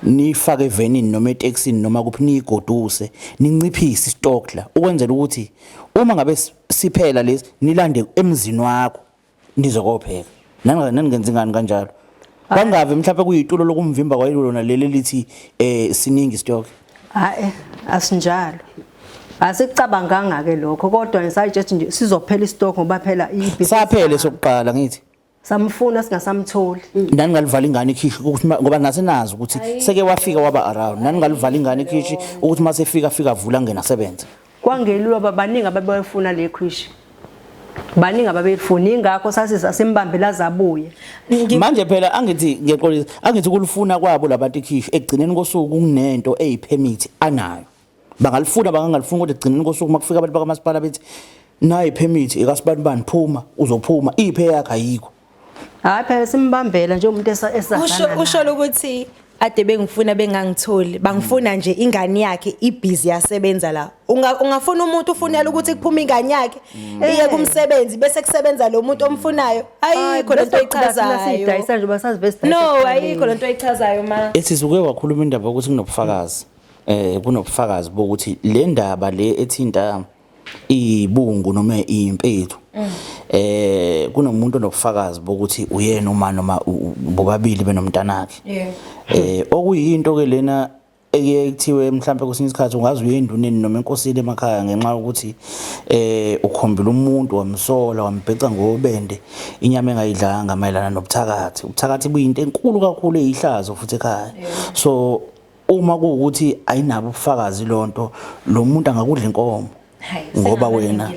niyifake evenini noma etekisini noma kuphi niyigoduse ninciphise istokla ukwenzela ukuthi uma ngabe s- siphela lesi nilande emzini wakho nize kopheka Nanga- naningenzi ngani kanjalo bangavi mhlawumpe kuyitulo lokumvimba kwayilona leli elithi um siningi isitoke hayi asinjalo asicabanganga ke lokho kodwa ngisayitshela nje sizophela istock ngoba phela ibi saphele sokuqala ngithi samfuna singasamtholi naningalivala ingane ikhishi ukuthi ma- ngoba nasenazi ukuthi seke wafika waba around naningalivala ingane ikhishi ukuthi uma sefika afika avula angena asebenze Kwangelula uba baningi ababeyifuna le khwishi. Baningi ababeyifuna ingakho sasisa simbambela zabuye. Manje phela angithi ngeqolisa angithi kulifuna kwabo labantu ikhishi ekugcineni kosuku kunento eyipermit anayo. Bangalifuna bangangalifuni kodwa ekugcineni kosuku makufika abantu bakamasipala bethi nayi permit ikasibanibani phuma uzophuma iphe yakhe ayikho. Hayi phela simbambela nje umuntu esasana. Usho usho ukuthi ade bengifuna bengangitholi bangifuna nje ingane yakhe ibhizi yasebenza la ungafuna umuntu ufunela ukuthi kuphume ingane yakhe mm. iye kumsebenzi bese kusebenza lo muntu omfunayo ayikho lento echazayo no ayikho lento echazayo ma esizuke wakhuluma indaba ukuthi kunobufakazi eh kunobufakazi bokuthi le ndaba le ethinta ibungu noma impethu mm. eh kunomuntu onobufakazi bokuthi uyena uma noma bobabili benomntanakhe eh okuyinto ke lena ekuye kuthiwe mhlawumbe kwesinye isikhathi ungaze uye enduneni noma enkosini emakhaya ngenxa yokuthi eh ukhombela umuntu wamsola wambheca ngobende inyama engayidlanga mayelana nobuthakathi ubuthakathi buyinto enkulu kakhulu eyihlazo futhi ekhaya so uma kuwukuthi ayinabo ubufakazi lonto lo muntu angakudla inkomo ngoba wena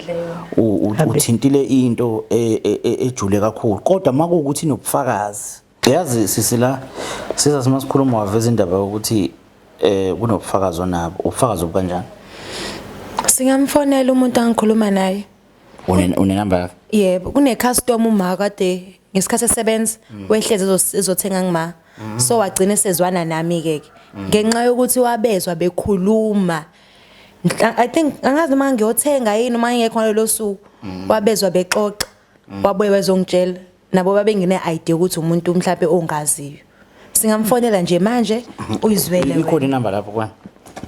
uthintile into e, e, e, ejule kakhulu kodwa uma kuwukuthi inobufakazi yazi sisi la siza sima sikhuluma waveza indaba yokuthi um kunobufakazi onabo ubufakazi obukanjani singamfonela umuntu angikhuluma naye Une une number yakhe. Yebo, kune customer uma kade ngesikhathi esebenza mm. wehleze ezothenga ngima. Mm. So wagcina sezwana nami ke ke. Mm. Ngenxa yokuthi wabezwa bekhuluma. I think angazi uma ngiyothenga yini uma ngekho ngalelo suku wabezwa bexoxa. Wabuye wezongitshela nabo babengine idea ukuthi umuntu mhlawumbe ongaziyo singamfonela nje manje uyizwele ikhona inamba lapho kwani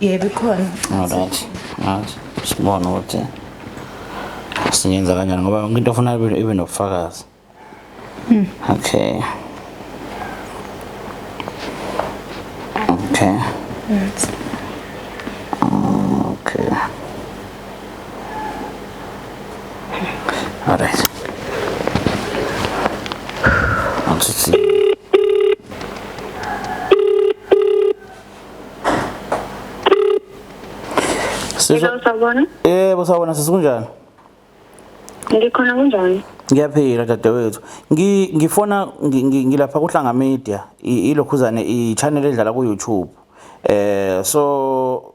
yebo ikhona alright alright sibona ukuthi singenza kanjani ngoba yonke into ofuna ibe nobufakazi hmm. okay okay okay Alright. One, two, three. Sizwa- Hello, sawubona. Yebo sawubona sisi kunjani? Ngikhona kunjani? Ngiyaphila dadewethu. Ngi ngifona ngi- ngi- ngilapha kuhlanga media i- ilokhuzane i channel edlala ku YouTube. Eh so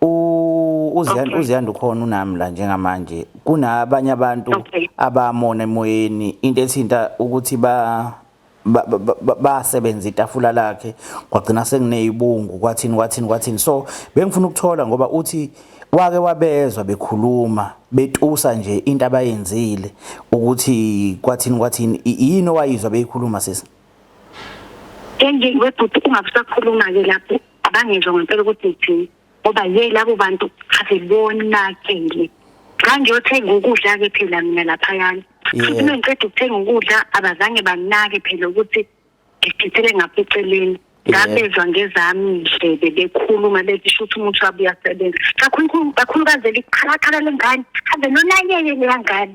uziyanda okay. uziyanda ukhona unami la njengamanje kunabanye abantu okay. abamona emoyeni into ethinta ukuthi ba basebenza itafula lakhe kwagcina sengineyibungu kwathini kwathini kwathini so bengifuna ukuthola ngoba uthi wake wabezwa bekhuluma betusa nje into abayenzile ukuthi kwathini kwathini yini owayizwa beyikhuluma sisi Enje webhuti ungakusakhuluma ke lapho abangizwa ngempela ukuthi ngithini ngoba ye labo bantu asibonakele xa ngiyothenga ukudla-ke phela mina laphayana futhi uma ngiqeda ukuthenga ukudla abazange banake phela ukuthi ngidithele ngapha eceleni ngabezwa ngezami ndlebe bekhuluma bethi shuthi umuntu wabe uyasebenza kakhulukazi leli qhalaqhala lengane ave nonakeke leyangane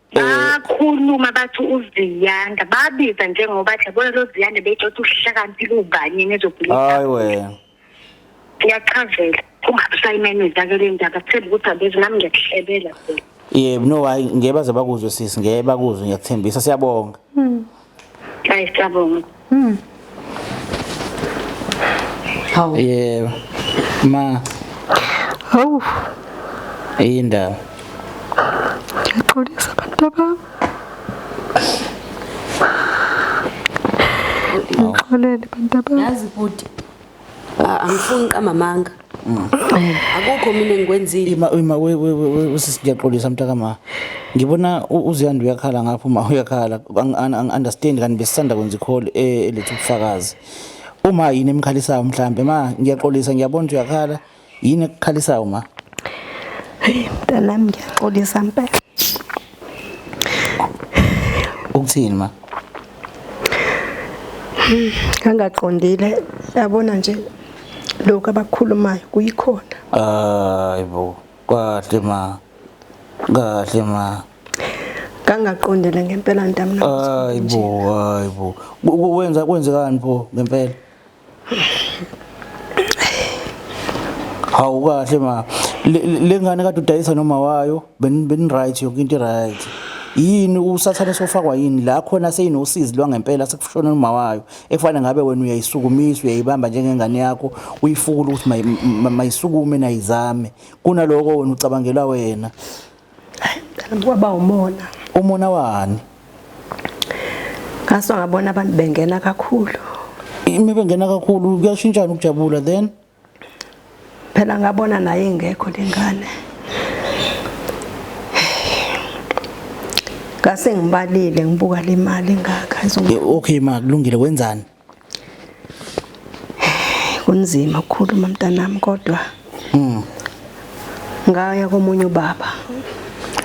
bakhuluma bathi uziyanda babiza njengoba athi yabona lo ziyanda beyitshotha uhlakaniphile ubani nezobhilisa hayi wena ngiyachazela ungabusayimemeza ke le ndaba themba ukuthi abezi nami ngiyakuhlebela phela yebo no hayi ngeke baze bakuzwe sisi ngeke bakuzwe ngiyakuthembisa siyabonga Hayi siyabonga. Mm. Hawu. Yebo. Ma. Hawu. Indaba. Ngiyaxolisa abantu abami. Ngixolele abantu abami. Yazi bhuti. Ah, angifuni qamamanga akukho mina engikwenzile ima ima we we we we- we sisiyaxolisa mntaka ma ngibona u- uziyanda uyakhala ngapha uma uyakhala Ang- ang- ang- understand kanti besisanda kwenza icall eh, eletha ubufakazi uma yini emkhalisayo mhlambe ma ngiyaxolisa ngiyabona ukuthi uyakhala Yini ekukhalisayo ma? Hey mntanami ngiyaxolisa mpela. Ukuthini ma? Ngangaqondile yabona nje lokho abakhulumayo kuyikhona. Hayibo, kahle ma. Kahle ma. Ngangaqondile ngempela ntamna. Hayibo, hayibo. Kwenza kwenzekani pho ngempela? hawu kahle ma Le- le- le ngane kade udayisa noma wayo beni- beni-right yonke into i-right yini usathane sofakwa yini la khona seyinosizi lwangempela sekushona noma wayo ekufanele ngabe wena uyayisukumisa uyayibamba njengengane yakho uyifukula ukuthi mayi- ma- mayisukume nayizame kunaloko wena ucabangela wena kwaba umona umona wani ngaso ngabona abantu bengena kakhulu ime bengena kakhulu kuyashintshana ukujabula then phela ngabona naye ingekho lengane ngase ngibalile ngibuka le mali ngakha okay ma kulungile wenzani kunzima ukukhuluma mntanami kodwa mm. ngaya komunye ubaba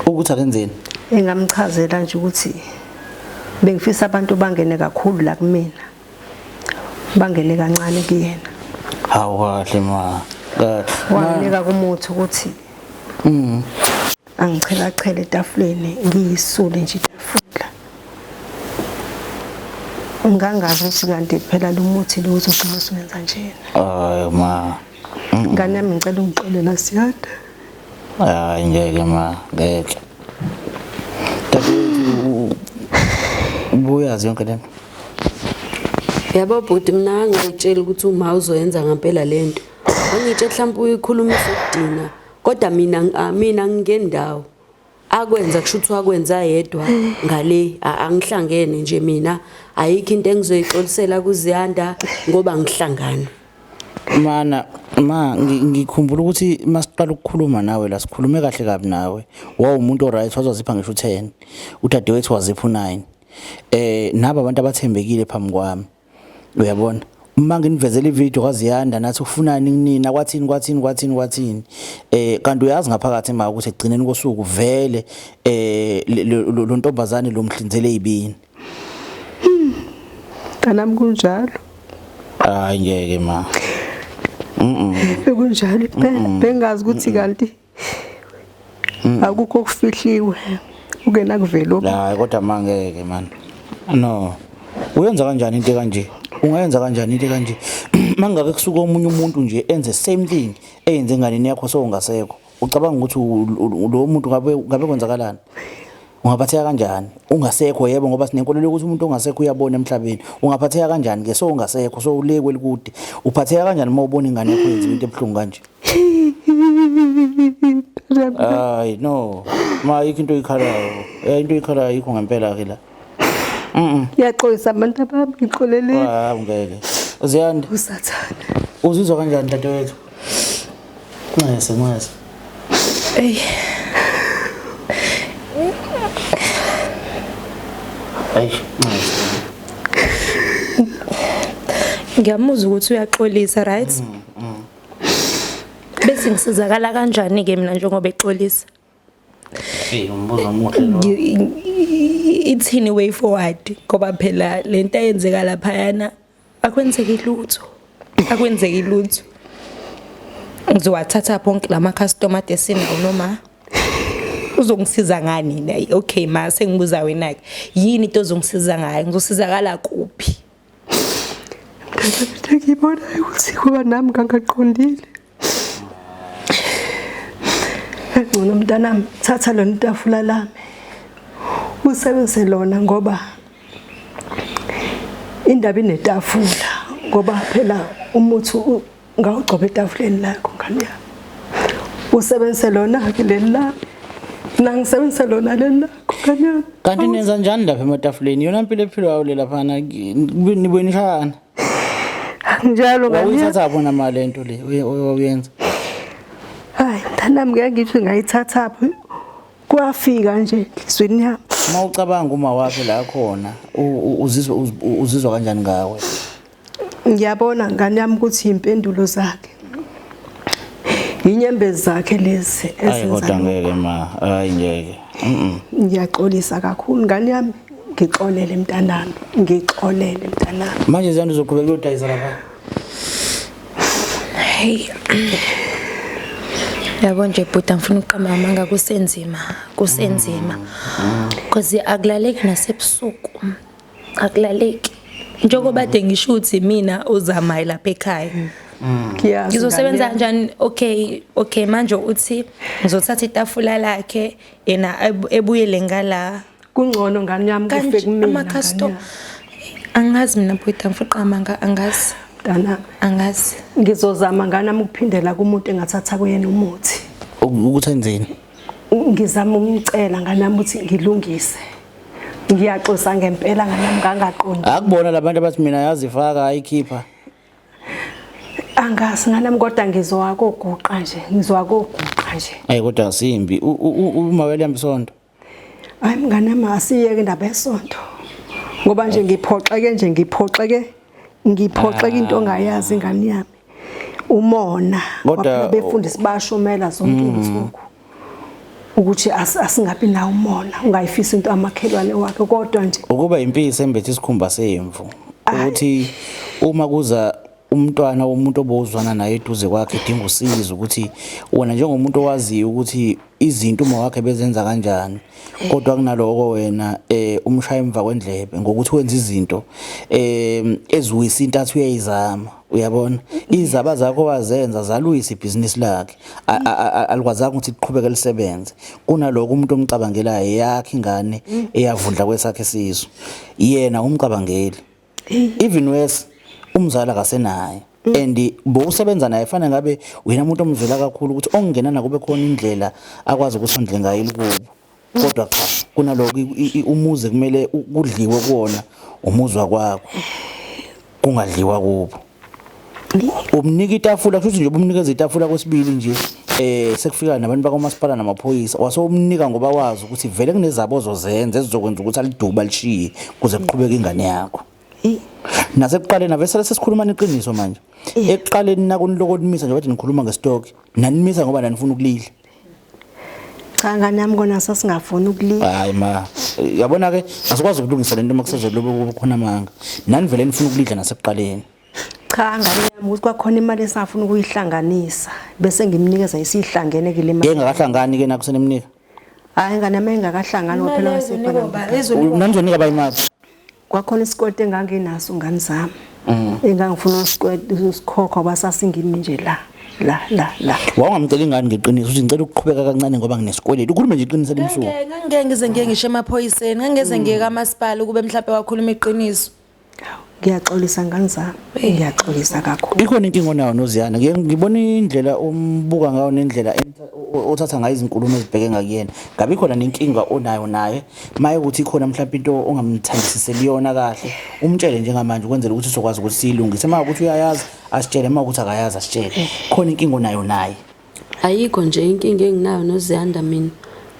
ukuthi akenzeni engamchazela nje ukuthi bengifisa abantu bangene kakhulu la kumina bangene kancane kuyena hawu kahle ma wanginika kumuthi ukuthi mm angichelachele etafuleni ngiyisule nje itafula ngangazi ukuthi kanti phela lo muthi lo uzogcina usuwenza njena hayi ma ngane yami ngicela ungixolela siyada hayi ngeke ma ngeke ubuyazi yonke lento yabo bhuti mina angayitshela ukuthi uma uzoyenza ngempela lento angitshe mhlawumbe uyikhulumisa ukudina kodwa mina ah, mina ngingendawo akwenza kusho ukuthi wakwenza yedwa ngale a- angihlangene nje mina ayikho into engizoyixolisela kuziyanda ngoba ngihlangana mana ma ngi- ngikhumbula ukuthi masiqala ukukhuluma nawe la sikhulume kahle kabi nawe wawumuntu oright wazozipha ngisho u-10 udadewethu wazipha u-9 eh naba abantu abathembekile phambi kwami uyabona uma nginivezela ivideo kwaziyanda nathi ufunani kunina kwathini kwathini kwathini kwathini eh kanti uyazi ngaphakathi ma ukuthi egcineni kosuku vele eh lo ntombazane lo mhlinzele yibini kanami kunjalo hayi ngeke ma mhm bekunjalo bengazi ukuthi kanti Mm. akukho okufihliwe ukena kuvelo hayi kodwa mangeke man no uyenza kanjani into kanje ungayenza kanjani into kanje mangake kusuka omunye umuntu nje enze same thing eyenze enganeni yakho sowungasekho ucabanga ukuthi lo muntu ngabe ngabe kwenzakalani ungaphatheka kanjani ungasekho yebo ngoba sinenkolelo ukuthi umuntu ongasekho uyabona emhlabeni ungaphatheka kanjani ke so ungasekho so ulekwe likude uphatheka kanjani uma ubona ingane yakho yenza into ebuhlungu kanje Ay no. Ma yikho into oyikhalayo. Eh into oyikhalayo yikho ngempela ke la. Mhm. Yaxolisa abantu abami ngixolele. Ah ngeke. Uziyanda. Usathane. Uzizwa kanjani dadewethu? Nxese nxese. Ey. Ay nxese. Ngiyamuzwa ukuthi uyaxolisa right? Mm. bese ngisizakala kanjani ke mina njengoba exolisa Hey umbuzo omuhle lo. Ithini way forward ngoba phela lento eyenzeka lapha yana akwenzeki lutho. Akwenzeki lutho. Ngizowathatha bonke lama customer desini noma uzongisiza ngani naye okay ma sengibuza wena ke yini into ozongisiza ngayo ngizosizakala kuphi Ngangabethe ngibona ukuthi kuba nami ngangaqondile. Ngcono mntanami thatha lona itafula lami. Usebenzise lona ngoba indaba inetafula ngoba phela umuthi ngawugcoba etafuleni lakho ngane yami usebenzise lona-ke leli lami nangisebenzise lona leli lakho ngane yami kanti nenza njani lapha ematafuleni yona mpilo ephilwayo le laphana nibuye nishayana njalo ngawuyithatha bona mali le nto le wawuyenza hayi mntanami ngeke ngithi ngayithatha phi kwafika nje enhliziyweni yami uma ucabanga uma wakhe la khona uzizwa uzizwa kanjani ngawe ngiyabona ngane yami ukuthi impendulo zakhe yinyembezi zakhe lezi ezenza ngeke ma hayi ngeke ngiyaxolisa kakhulu ngane yami ngixolele mntanami ngixolele mntanami manje ziyanda uzoqhubeka uyodayisa lapha hey yabo nje bhuti angifuna ukuqamba amanga kusenzima kusenzima mm. cause akulaleki nasebusuku akulaleki njengoba kade ngisho ukuthi mina uzamayi lapha ekhaya mm. ngizosebenza kanjani okay okay manje uthi ngizothatha itafula lakhe yena ebuyele ngala kungcono ngani yami kufe kumina ama customer angazi mina bhuti angifuqa amanga angazi mntana angazi ngizozama ngani ami ukuphindela kumuntu engathatha kuyena umuthi ukuthi enzeni ngizama umcela nganami ukuthi ngilungise ngiyaxosa ngempela nganami ngangaqondi akubona labantu abathi mina yazifaka ayikhipha angazi nganami kodwa ngizwa koguqa nje ngizwa koguqa nje ayi kodwa asimbi uma welihamba isonto hayi mnganami asiyeke indaba yesonto ngoba nje ngiphoxeke nje ngiphoxeke ngiphoxeke into ongayazi ingane yami umona kodwa befundisi bashumela zonke mm. izinsuku ukuthi asingabi na umona ungayifisa into amakhelwane wakhe kodwa nje ukuba impisi embethe isikhumba semvu ukuthi uma kuza umntwana womuntu obozwana naye eduze kwakhe edinga usizo ukuthi wena njengomuntu owaziyo ukuthi izinto uma wakhe bezenza kanjani eh. kodwa kunaloko wena eh umshaya emva kwendlebe ngokuthi wenza izinto eh eziwisa intathu uyayizama uyabona izaba zakho wazenza zaluyisa ibhizinisi lakhe alikwazanga ukuthi liqhubeke lisebenze kunaloko umuntu omcabangelayo yakhe ingane mm. eyavundla kwesakhe sizwe yena umcabangeli even worse umzala kasenaye mm. and bowusebenza naye fanele ngabe wena umuntu omzwela kakhulu ukuthi ongena nakube khona indlela akwazi ukusondle ngayo ilikubo mm. kodwa cha kunaloko umuzi kumele kudliwe kuwona umuzwa kwakho kungadliwa kubo umnika itafula kusho ukuthi nje ubumnikeza itafula kwesibili nje eh sekufika nabantu bakwamasipala namaphoyisa wasewumnika ngoba wazi ukuthi vele kunezabo ozozenza ezizokwenza ukuthi aliduba lishiye kuze kuqhubeke ingane yakho nasekuqaleni avesele sesikhuluma neqiniso manje ekuqaleni nakuniloko nimisa nje bathi nikhuluma ngestock nanimisa ngoba nanifuna ukulila cha ngane yami kona sasingafuni ukulinda hayi ma yabona ke asikwazi ukulungisa lento uma kusezolobe ukuba khona amanga nani vele nifuna ukulidla nasekuqaleni cha ngane yami ukuthi kwakhona imali esafuna ukuyihlanganisa bese ngimnikeza isihlangene ke le mali engakahlangani ke nakusenimnika hayi ngane yami engakahlangani waphela wasekhona nanizoninika bayimali Kwakhona isikweti enganginaso ngani zami. Mm. Engangifuna usikweti usikhokho abasasingimi nje la. la la la wawungamcela ingane ngeqiniso uthi ngicela ukuqhubeka kancane ngoba nginesikweletu ukhulume nje iqiniso limsuku ngeke ngize ngeke ngisho emaphoyiseni ngeke ngize ngeke kamasipala ukube mhlawumbe wakhuluma iqiniso ngiyaxolisa ngani zami ngiyaxolisa kakhulu ikhona inkinga onayo noziyana ngibona indlela umbuka ngayo nendlela uthatha ngayo izinkulumo ezibheke ngakuyena ngabe ikhona nenkinga onayo naye maye ukuthi ikhona mhlawumbe into ongamthandisiseli yona kahle umtshele njengamanje ukwenzela ukuthi sokwazi ukuthi siyilungise uma ukuthi uyayazi asitshele uma ukuthi akayazi asitshele khona inkinga onayo naye ayikho nje inkinga enginayo noziyanda mina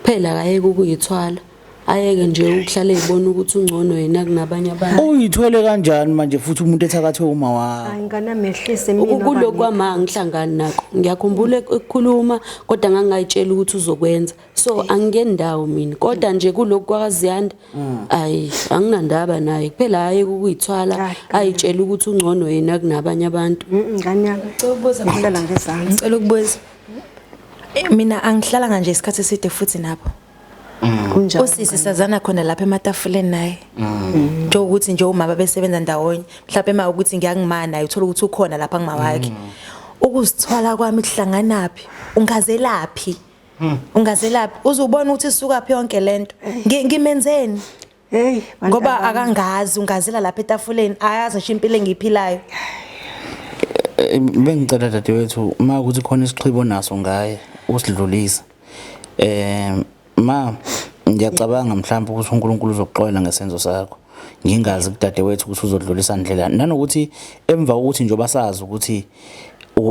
kuphela akayeke ukuyithwala ayeke nje ukuhlale ebona ukuthi ungcono yena kunabanye abantu uyithwele kanjani manje futhi umuntu ethakathwe uma wakho hayi ngana mehlise mina ukukulo kwama ngihlangani nakho ngiyakhumbula ekukhuluma kodwa ngangayitshela ukuthi uzokwenza so angingeni ndawo mina kodwa nje kulokhu kwakaziyanda mm. ayi anginandaba naye kuphela hayi ukuyithwala ayitshela ukuthi ungcono yena kunabanye abantu ngane yami cela ukubuza ngilala ngezansi ngicela ukubuza eh, mina angihlala kanje isikhathi eside futhi nabo mm. kunjalo usisi sazana khona lapha ematafuleni naye mm. nje ukuthi nje umama besebenza ndawonye mhlawumbe ema ukuthi ngiyangimana naye uthola ukuthi ukhona lapha ngimawakhe ukuzithwala kwami kuhlanganaphi ungazelaphi Hmm. Ungazelaphi uze ubone ukuthi isuka phi yonke lento. Ngimenzeni? Hey, ngoba akangazi ungazela lapha etafuleni ayazi ngisho impilo engiyiphilayo. Eh, bengicela dadewethu uma ukuthi khona isixhibo naso ngaye usidlulisa. Eh ma ngiyacabanga mhlawumbe ukuthi uNkulunkulu uzokuxolela ngesenzo sakho. ngingazi kudadewethu ukuthi uzodlulisa ndlela nanokuthi emva kokuthi njengoba sazi ukuthi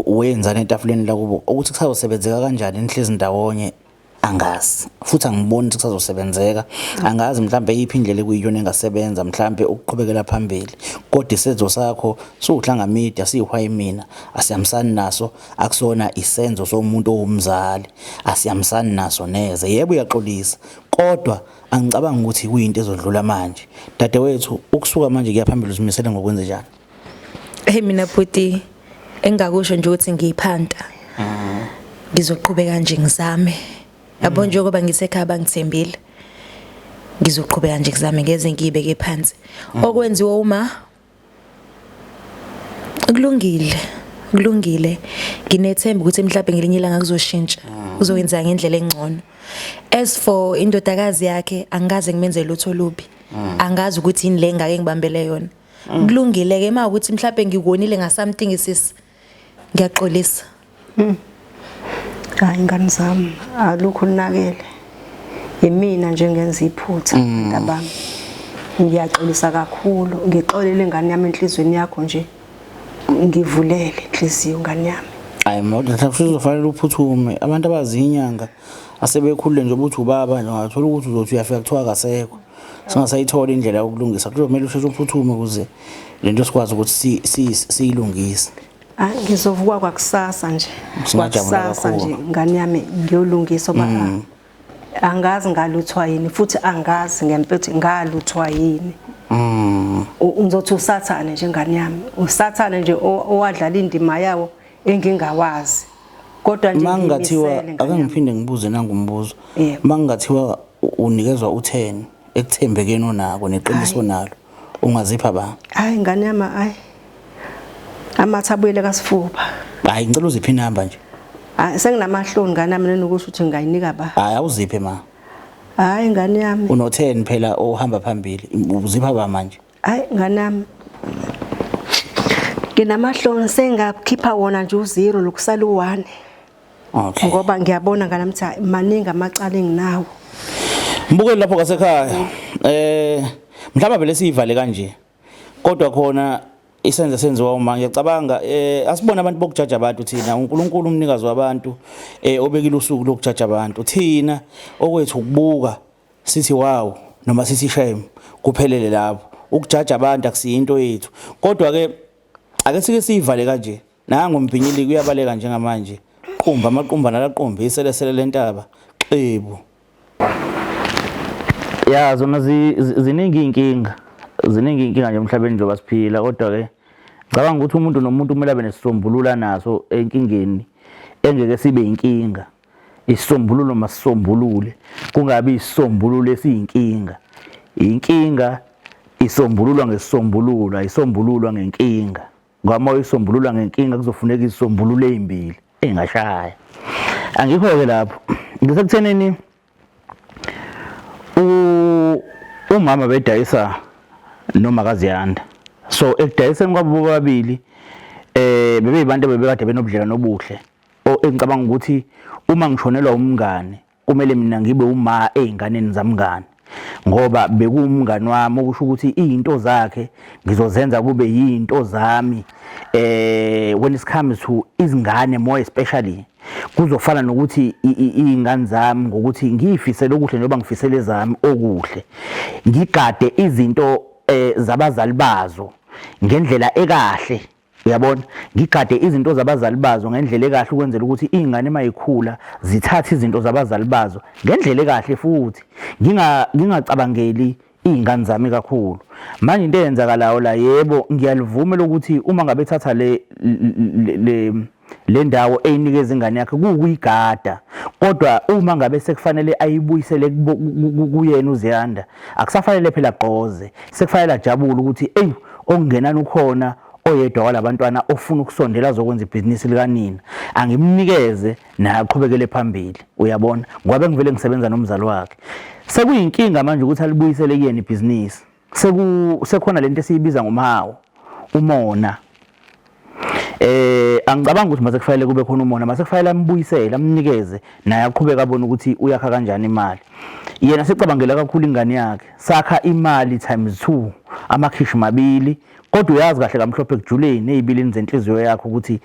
wenzani etafuleni lakubo ukuthi kusazosebenzeka kanjani nihlezi ndawonye angazi futhi angiboni ukuthi kusazosebenzeka angazi mhlawumbe iyiphi indlela ekuyiyona engasebenza mhlawumbe ukuqhubekela phambili kodwa isenzo sakho siwuhlanga media siyihwayi mina asiyamsani naso akusona isenzo somuntu owumzali asiyamsani naso neze yebo uyaxolisa kodwa angicabangi ukuthi kuyinto ezodlula manje dadewethu ukusuka manje kuyaphambili uzimisele ngokwenze njani Hey mina bhuti engakusho nje ukuthi ngiyiphanta. Mhm. Ngizoqhubeka nje ngizame. Yabo mhm. njengoba ngisekhaya bangithembile. Ngizoqhubeka nje ngizame ngeze ngiyibeke phansi. Mhm. Okwenziwa uma kulungile kulungile nginethemba ukuthi mhlawumbe ngelinye ilanga kuzoshintsha uzokwenza ngendlela engcono as for indodakazi yakhe angikaze ngimenzele lutho lubi angazi ukuthi yini le ngake ngibambele yona mm. kulungile ke uma ukuthi mhlawumbe ngikonile nga something sis ngiyaxolisa mm. hayi ngani zami alukho linakele yimina nje ngenza iphutha mm. ntabami ngiyaxolisa kakhulu ngixolele ngani yami enhlizweni yakho nje ngivulele inhliziyo ngani yami hayi mawuthi mhlawumbe uzofanele uphuthume abantu abazinyanga asebekhulile nje ukuthi ubaba nje ungathola ukuthi uzothi uyafika kuthiwa akasekho singasayitholi indlela yokulungisa kuzomele usheshe uphuthume ukuze le nto sikwazi ukuthi siyilungise hayi ah, ngizovukwa kwakusasa nje kwakusasa nje ngane yami ngiyolungisa uba mm. angazi ngaluthwa yini futhi angazi ngempethu ngaluthwa yini mm. ngizothi usathane nje ngane yami usathane nje owadlala indima yawo engingawazi kodwa nje mangingathiwa akangiphinde ngibuze nangumbuzo mangingathiwa Unikezwa utheni ekuthembekeni onako neqiniso onalo ungazipha ba? Hayi ngane yami hayi. Amatha abuyele kasifuba. Hayi ngicela uziphe inamba nje. Hayi senginamahloni ngane yami nenokusho ukuthi ngingayinika ba. Hayi awuziphe ma. Hayi ngane yami. Unotheni phela ohamba phambili uzipha ba manje? Hayi nganami nginamahloni sengakhipha wona nje uzero lokusala u-one okay ngoba ngiyabona nganami ukuthi hayi, maningi amacala enginawo mbukeli lapho kasekhaya eh mhlawumbe vele siyivale kanje kodwa khona isenze senziwa uma ngiyacabanga eh asibona abantu bokujaja abantu thina uNkulunkulu umnikazi wabantu eh obekile usuku lokujaja abantu thina okwethu ukubuka Sithi wow noma sithi shame kuphelele lapho. Ukujaja abantu akusiyo into yethu. Kodwa ke ake sike siyivale kanje. Nangu umbhinyili kuyabaleka njengamanje. Qumba amaqumba nalaqumba iselesele lentaba. Xebu. Ya zona ziningi inkinga. Ziningi inkinga nje emhlabeni njengoba siphila kodwa ke ngicabanga ukuthi umuntu nomuntu kumele abe nesisombulula naso enkingeni engeke sibe inkinga. Isisombululo masisombulule kungabi isisombululo esiyinkinga. Inkinga isombululwa ngesisombululo ayisombululwa ngenkinga ngoba uma uyisombulula ngenkinga kuzofuneka izisombululo ezimbili engashaya angikho-ke lapho ngisekuthenini umama bedayisa noma kaziyanda so ekudayiseni kwabo bobabili eh bebeyibantu bebekade benobudlelwano obuhle o engicabanga ukuthi uma ngishonelwa umngane kumele mina ngibe uma ezinganeni zamngane ngoba bekuwumngani wami okusho ukuthi izinto zakhe ngizozenza kube yizinto zami eh when it comes to izingane more especially kuzofana nokuthi izingane zami ngokuthi ngiyifisele okuhle njengoba ngifisele zami okuhle ngigade izinto eh, zabazali bazo ngendlela ekahle Uyabona? Ngigade izinto zabazali bazo ngendlela ekahle ukwenzela ukuthi izingane mayikhula zithathe izinto zabazali bazo ngendlela ekahle futhi nginga ngingacabangeli izingane zami kakhulu. Manje into eyenzakalayo la yebo ngiyalivuma lokuthi uma ngabe thatha le le Le ndawo eyinikeza ingane yakhe kuwukuyigada kodwa uma ngabe sekufanele ayibuyisele kuyena uZiyanda akusafanele phela gqoze sekufanele ajabule ukuthi eyi okungenani ukhona oyedwa walabantwana ofuna ukusondela azokwenza ibhizinisi likanina angimnikeze naye aqhubekele phambili uyabona ngoba bengivele ngisebenza nomzali wakhe sekuyinkinga manje ukuthi alibuyisele kuyena ibhizinisi seku sekhona lento esiyibiza ngomawo umona eh angicabanga ukuthi mase kufanele kube khona umona mase kufanele ambuyisele amnikeze naye aqhubeka abone ukuthi uyakha kanjani imali yena secabangela kakhulu ingane yakhe sakha imali times 2 amakhishi mabili kodwa uyazi kahle kamhlophe kujuleni ezibilini zenhliziyo yakho ukuthi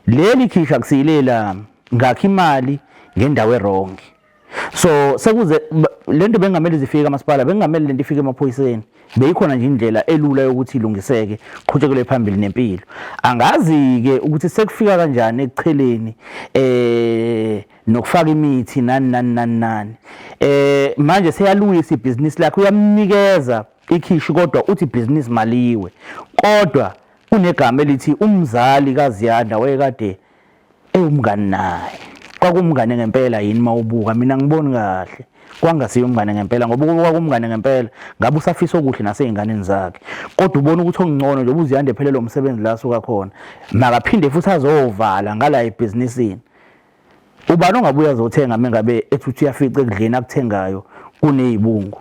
leli khisha kusiyilela ngakho imali ngendawo erongi so sekuze lento bengamele zifike amasipala bengamele lento ifike emaphoyiseni beyikhona nje indlela elula yokuthi ilungiseke qhutshekele phambili nempilo angazi ke ukuthi sekufika kanjani ekucheleni eh nokufaka imithi nani nani nani nani eh manje seyalungisa ibhizinisi lakhe uyamnikeza ikhishi kodwa uthi ibhizinisi maliwe kodwa kunegama elithi umzali kaZiyanda wayekade ewumngani naye kwakumngane ngempela yini mawubuka mina ngiboni kahle kwangasiye umngane ngempela ngoba ukube kwakumngane ngempela ngabe usafisa okuhle naseyinganeni zakhe kodwa ubona ukuthi okungcono nje ubuziyande phelele umsebenzi la suka khona makaphinde futhi azovala ngala ebhizinisini ubani ongabuya azothenga mengabe ethi uyafica ekudleni akuthengayo kunezibungu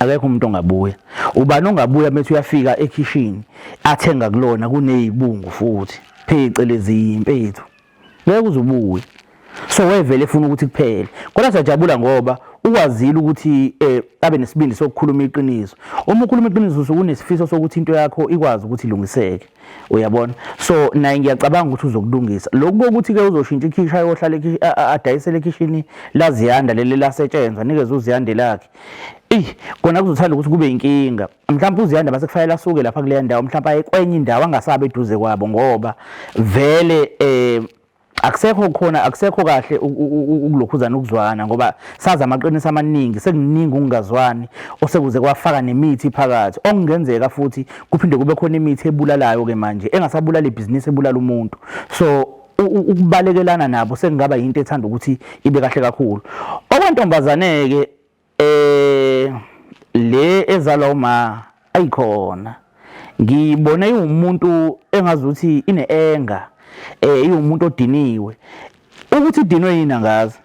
akekho umuntu ongabuya ubani ongabuya methi uyafika ekhishini athenga kulona kunezibungu futhi phecelezi impethu ngeke uzubuye so wevele efuna ukuthi kuphele kodwa siyajabula ngoba ukwazile ukuthi eh abe nesibindi sokukhuluma iqiniso uma ukhuluma iqiniso usukunesifiso sokuthi into yakho ikwazi ukuthi ilungiseke uyabona so naye ngiyacabanga ukuthi uzokulungisa lokhu kokuthi-ke uzoshintsha ikhishi ayohlala adayisele ekhishini laziyanda leli lasetshenzwa nikeze uziyande lakhe eyi kona kuzothanda ukuthi kube inkinga mhlawumpe uziyanda mase kufanele asuke lapha kuleya ndawo mhlawumpe aye kwenye indawo angasabe eduze kwabo ngoba vele um akusekho khona akusekho kahle ukulokhuzana ukuzwana ngoba sazi amaqiniso amaningi sekuningi ukungazwani osekuze kwafaka nemithi phakathi okungenzeka futhi kuphinde kube khona imithi ebulalayo ke manje engasabulala ibhizinisi ebulala umuntu so ukubalekelana nabo sekungaba yinto ethanda ukuthi ibe kahle kakhulu okwentombazane ke Eh le ezalwa uma ayikhona ngiyibone iwumuntu engazuthi ine anger eh iwumuntu odiniwe ukuthi idinwe yini angazi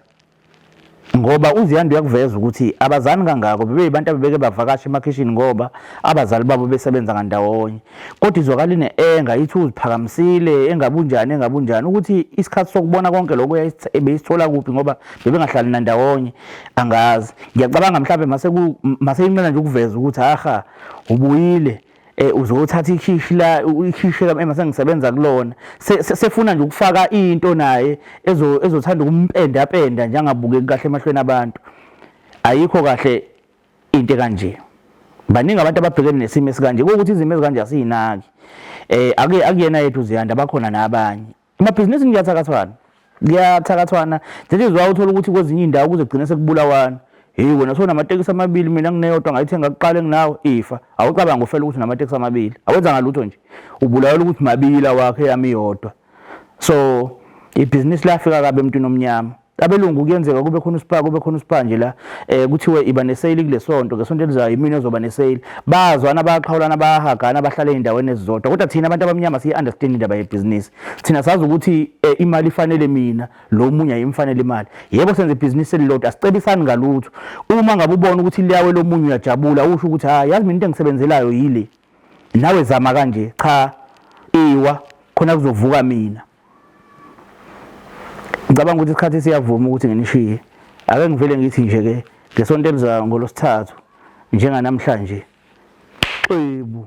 ngoba uziyanda uyakuveza ukuthi abazani kangako bebeyibantu abebeke bavakasha emakhishini ngoba abazali babo besebenza ngandawonye kodwa izwakala ine-enga ithi uziphakamisile engabunjani engabunjani ukuthi isikhathi sokubona konke lokho ebeyisithola kuphi ngoba bebengahlali nandawonye angazi ngiyacabanga mhlawumbe maseyinqena nje ukuveza ukuthi aha ubuyile eh uzothatha ikhishi la ikhishi la emase ngisebenza kulona sefuna nje ukufaka into naye ezothanda ukumpenda penda njengabukeki kahle emahlweni abantu ayikho kahle into kanje baningi abantu ababhekene nesimo esikanje ukuthi izimo ezikanje asiyinaki eh ake akuyena yethu ziyanda bakhona nabanye emabhizinisi ngiyathakathwana kuyathakathwana nje izwa uthola ukuthi kwezinye indawo kuze kugcine sekubulawana hey wena sona amatekisi amabili mina ngineyodwa ngayithenga kuqala enginawo ifa awucabanga ufela ukuthi namatekisi amabili awenza ngalutho nje ubulawa ukuthi mabili awakhe yami yodwa so ibhizinisi lafika kabi emntwini omnyama abelungu kuyenzeka kube khona usipha kube khona usipha nje la eh kuthiwe iba nesale kulesonto ngesonto elizayo imini ezoba nesale bazwana bayaqhawulana bayahagana bahlale endaweni ezizodwa kodwa thina abantu abamnyama siyi understand indaba yebusiness thina sazi ukuthi eh, imali ifanele mina lo munye ayimfanele imali yebo senze ibusiness elilodwa asicebisani ngalutho uma ngabe ubona ukuthi liyawe lo munye uyajabula usho ukuthi ha yazi mina into engisebenzelayo yile nawe zama kanje cha iwa khona kuzovuka mina ngicabanga ukuthi isikhathi siyavuma ukuthi nginishiye ake ngivele ngithi nje ke ngesonto elizayo ngolosithathu njenganamhlanje xebu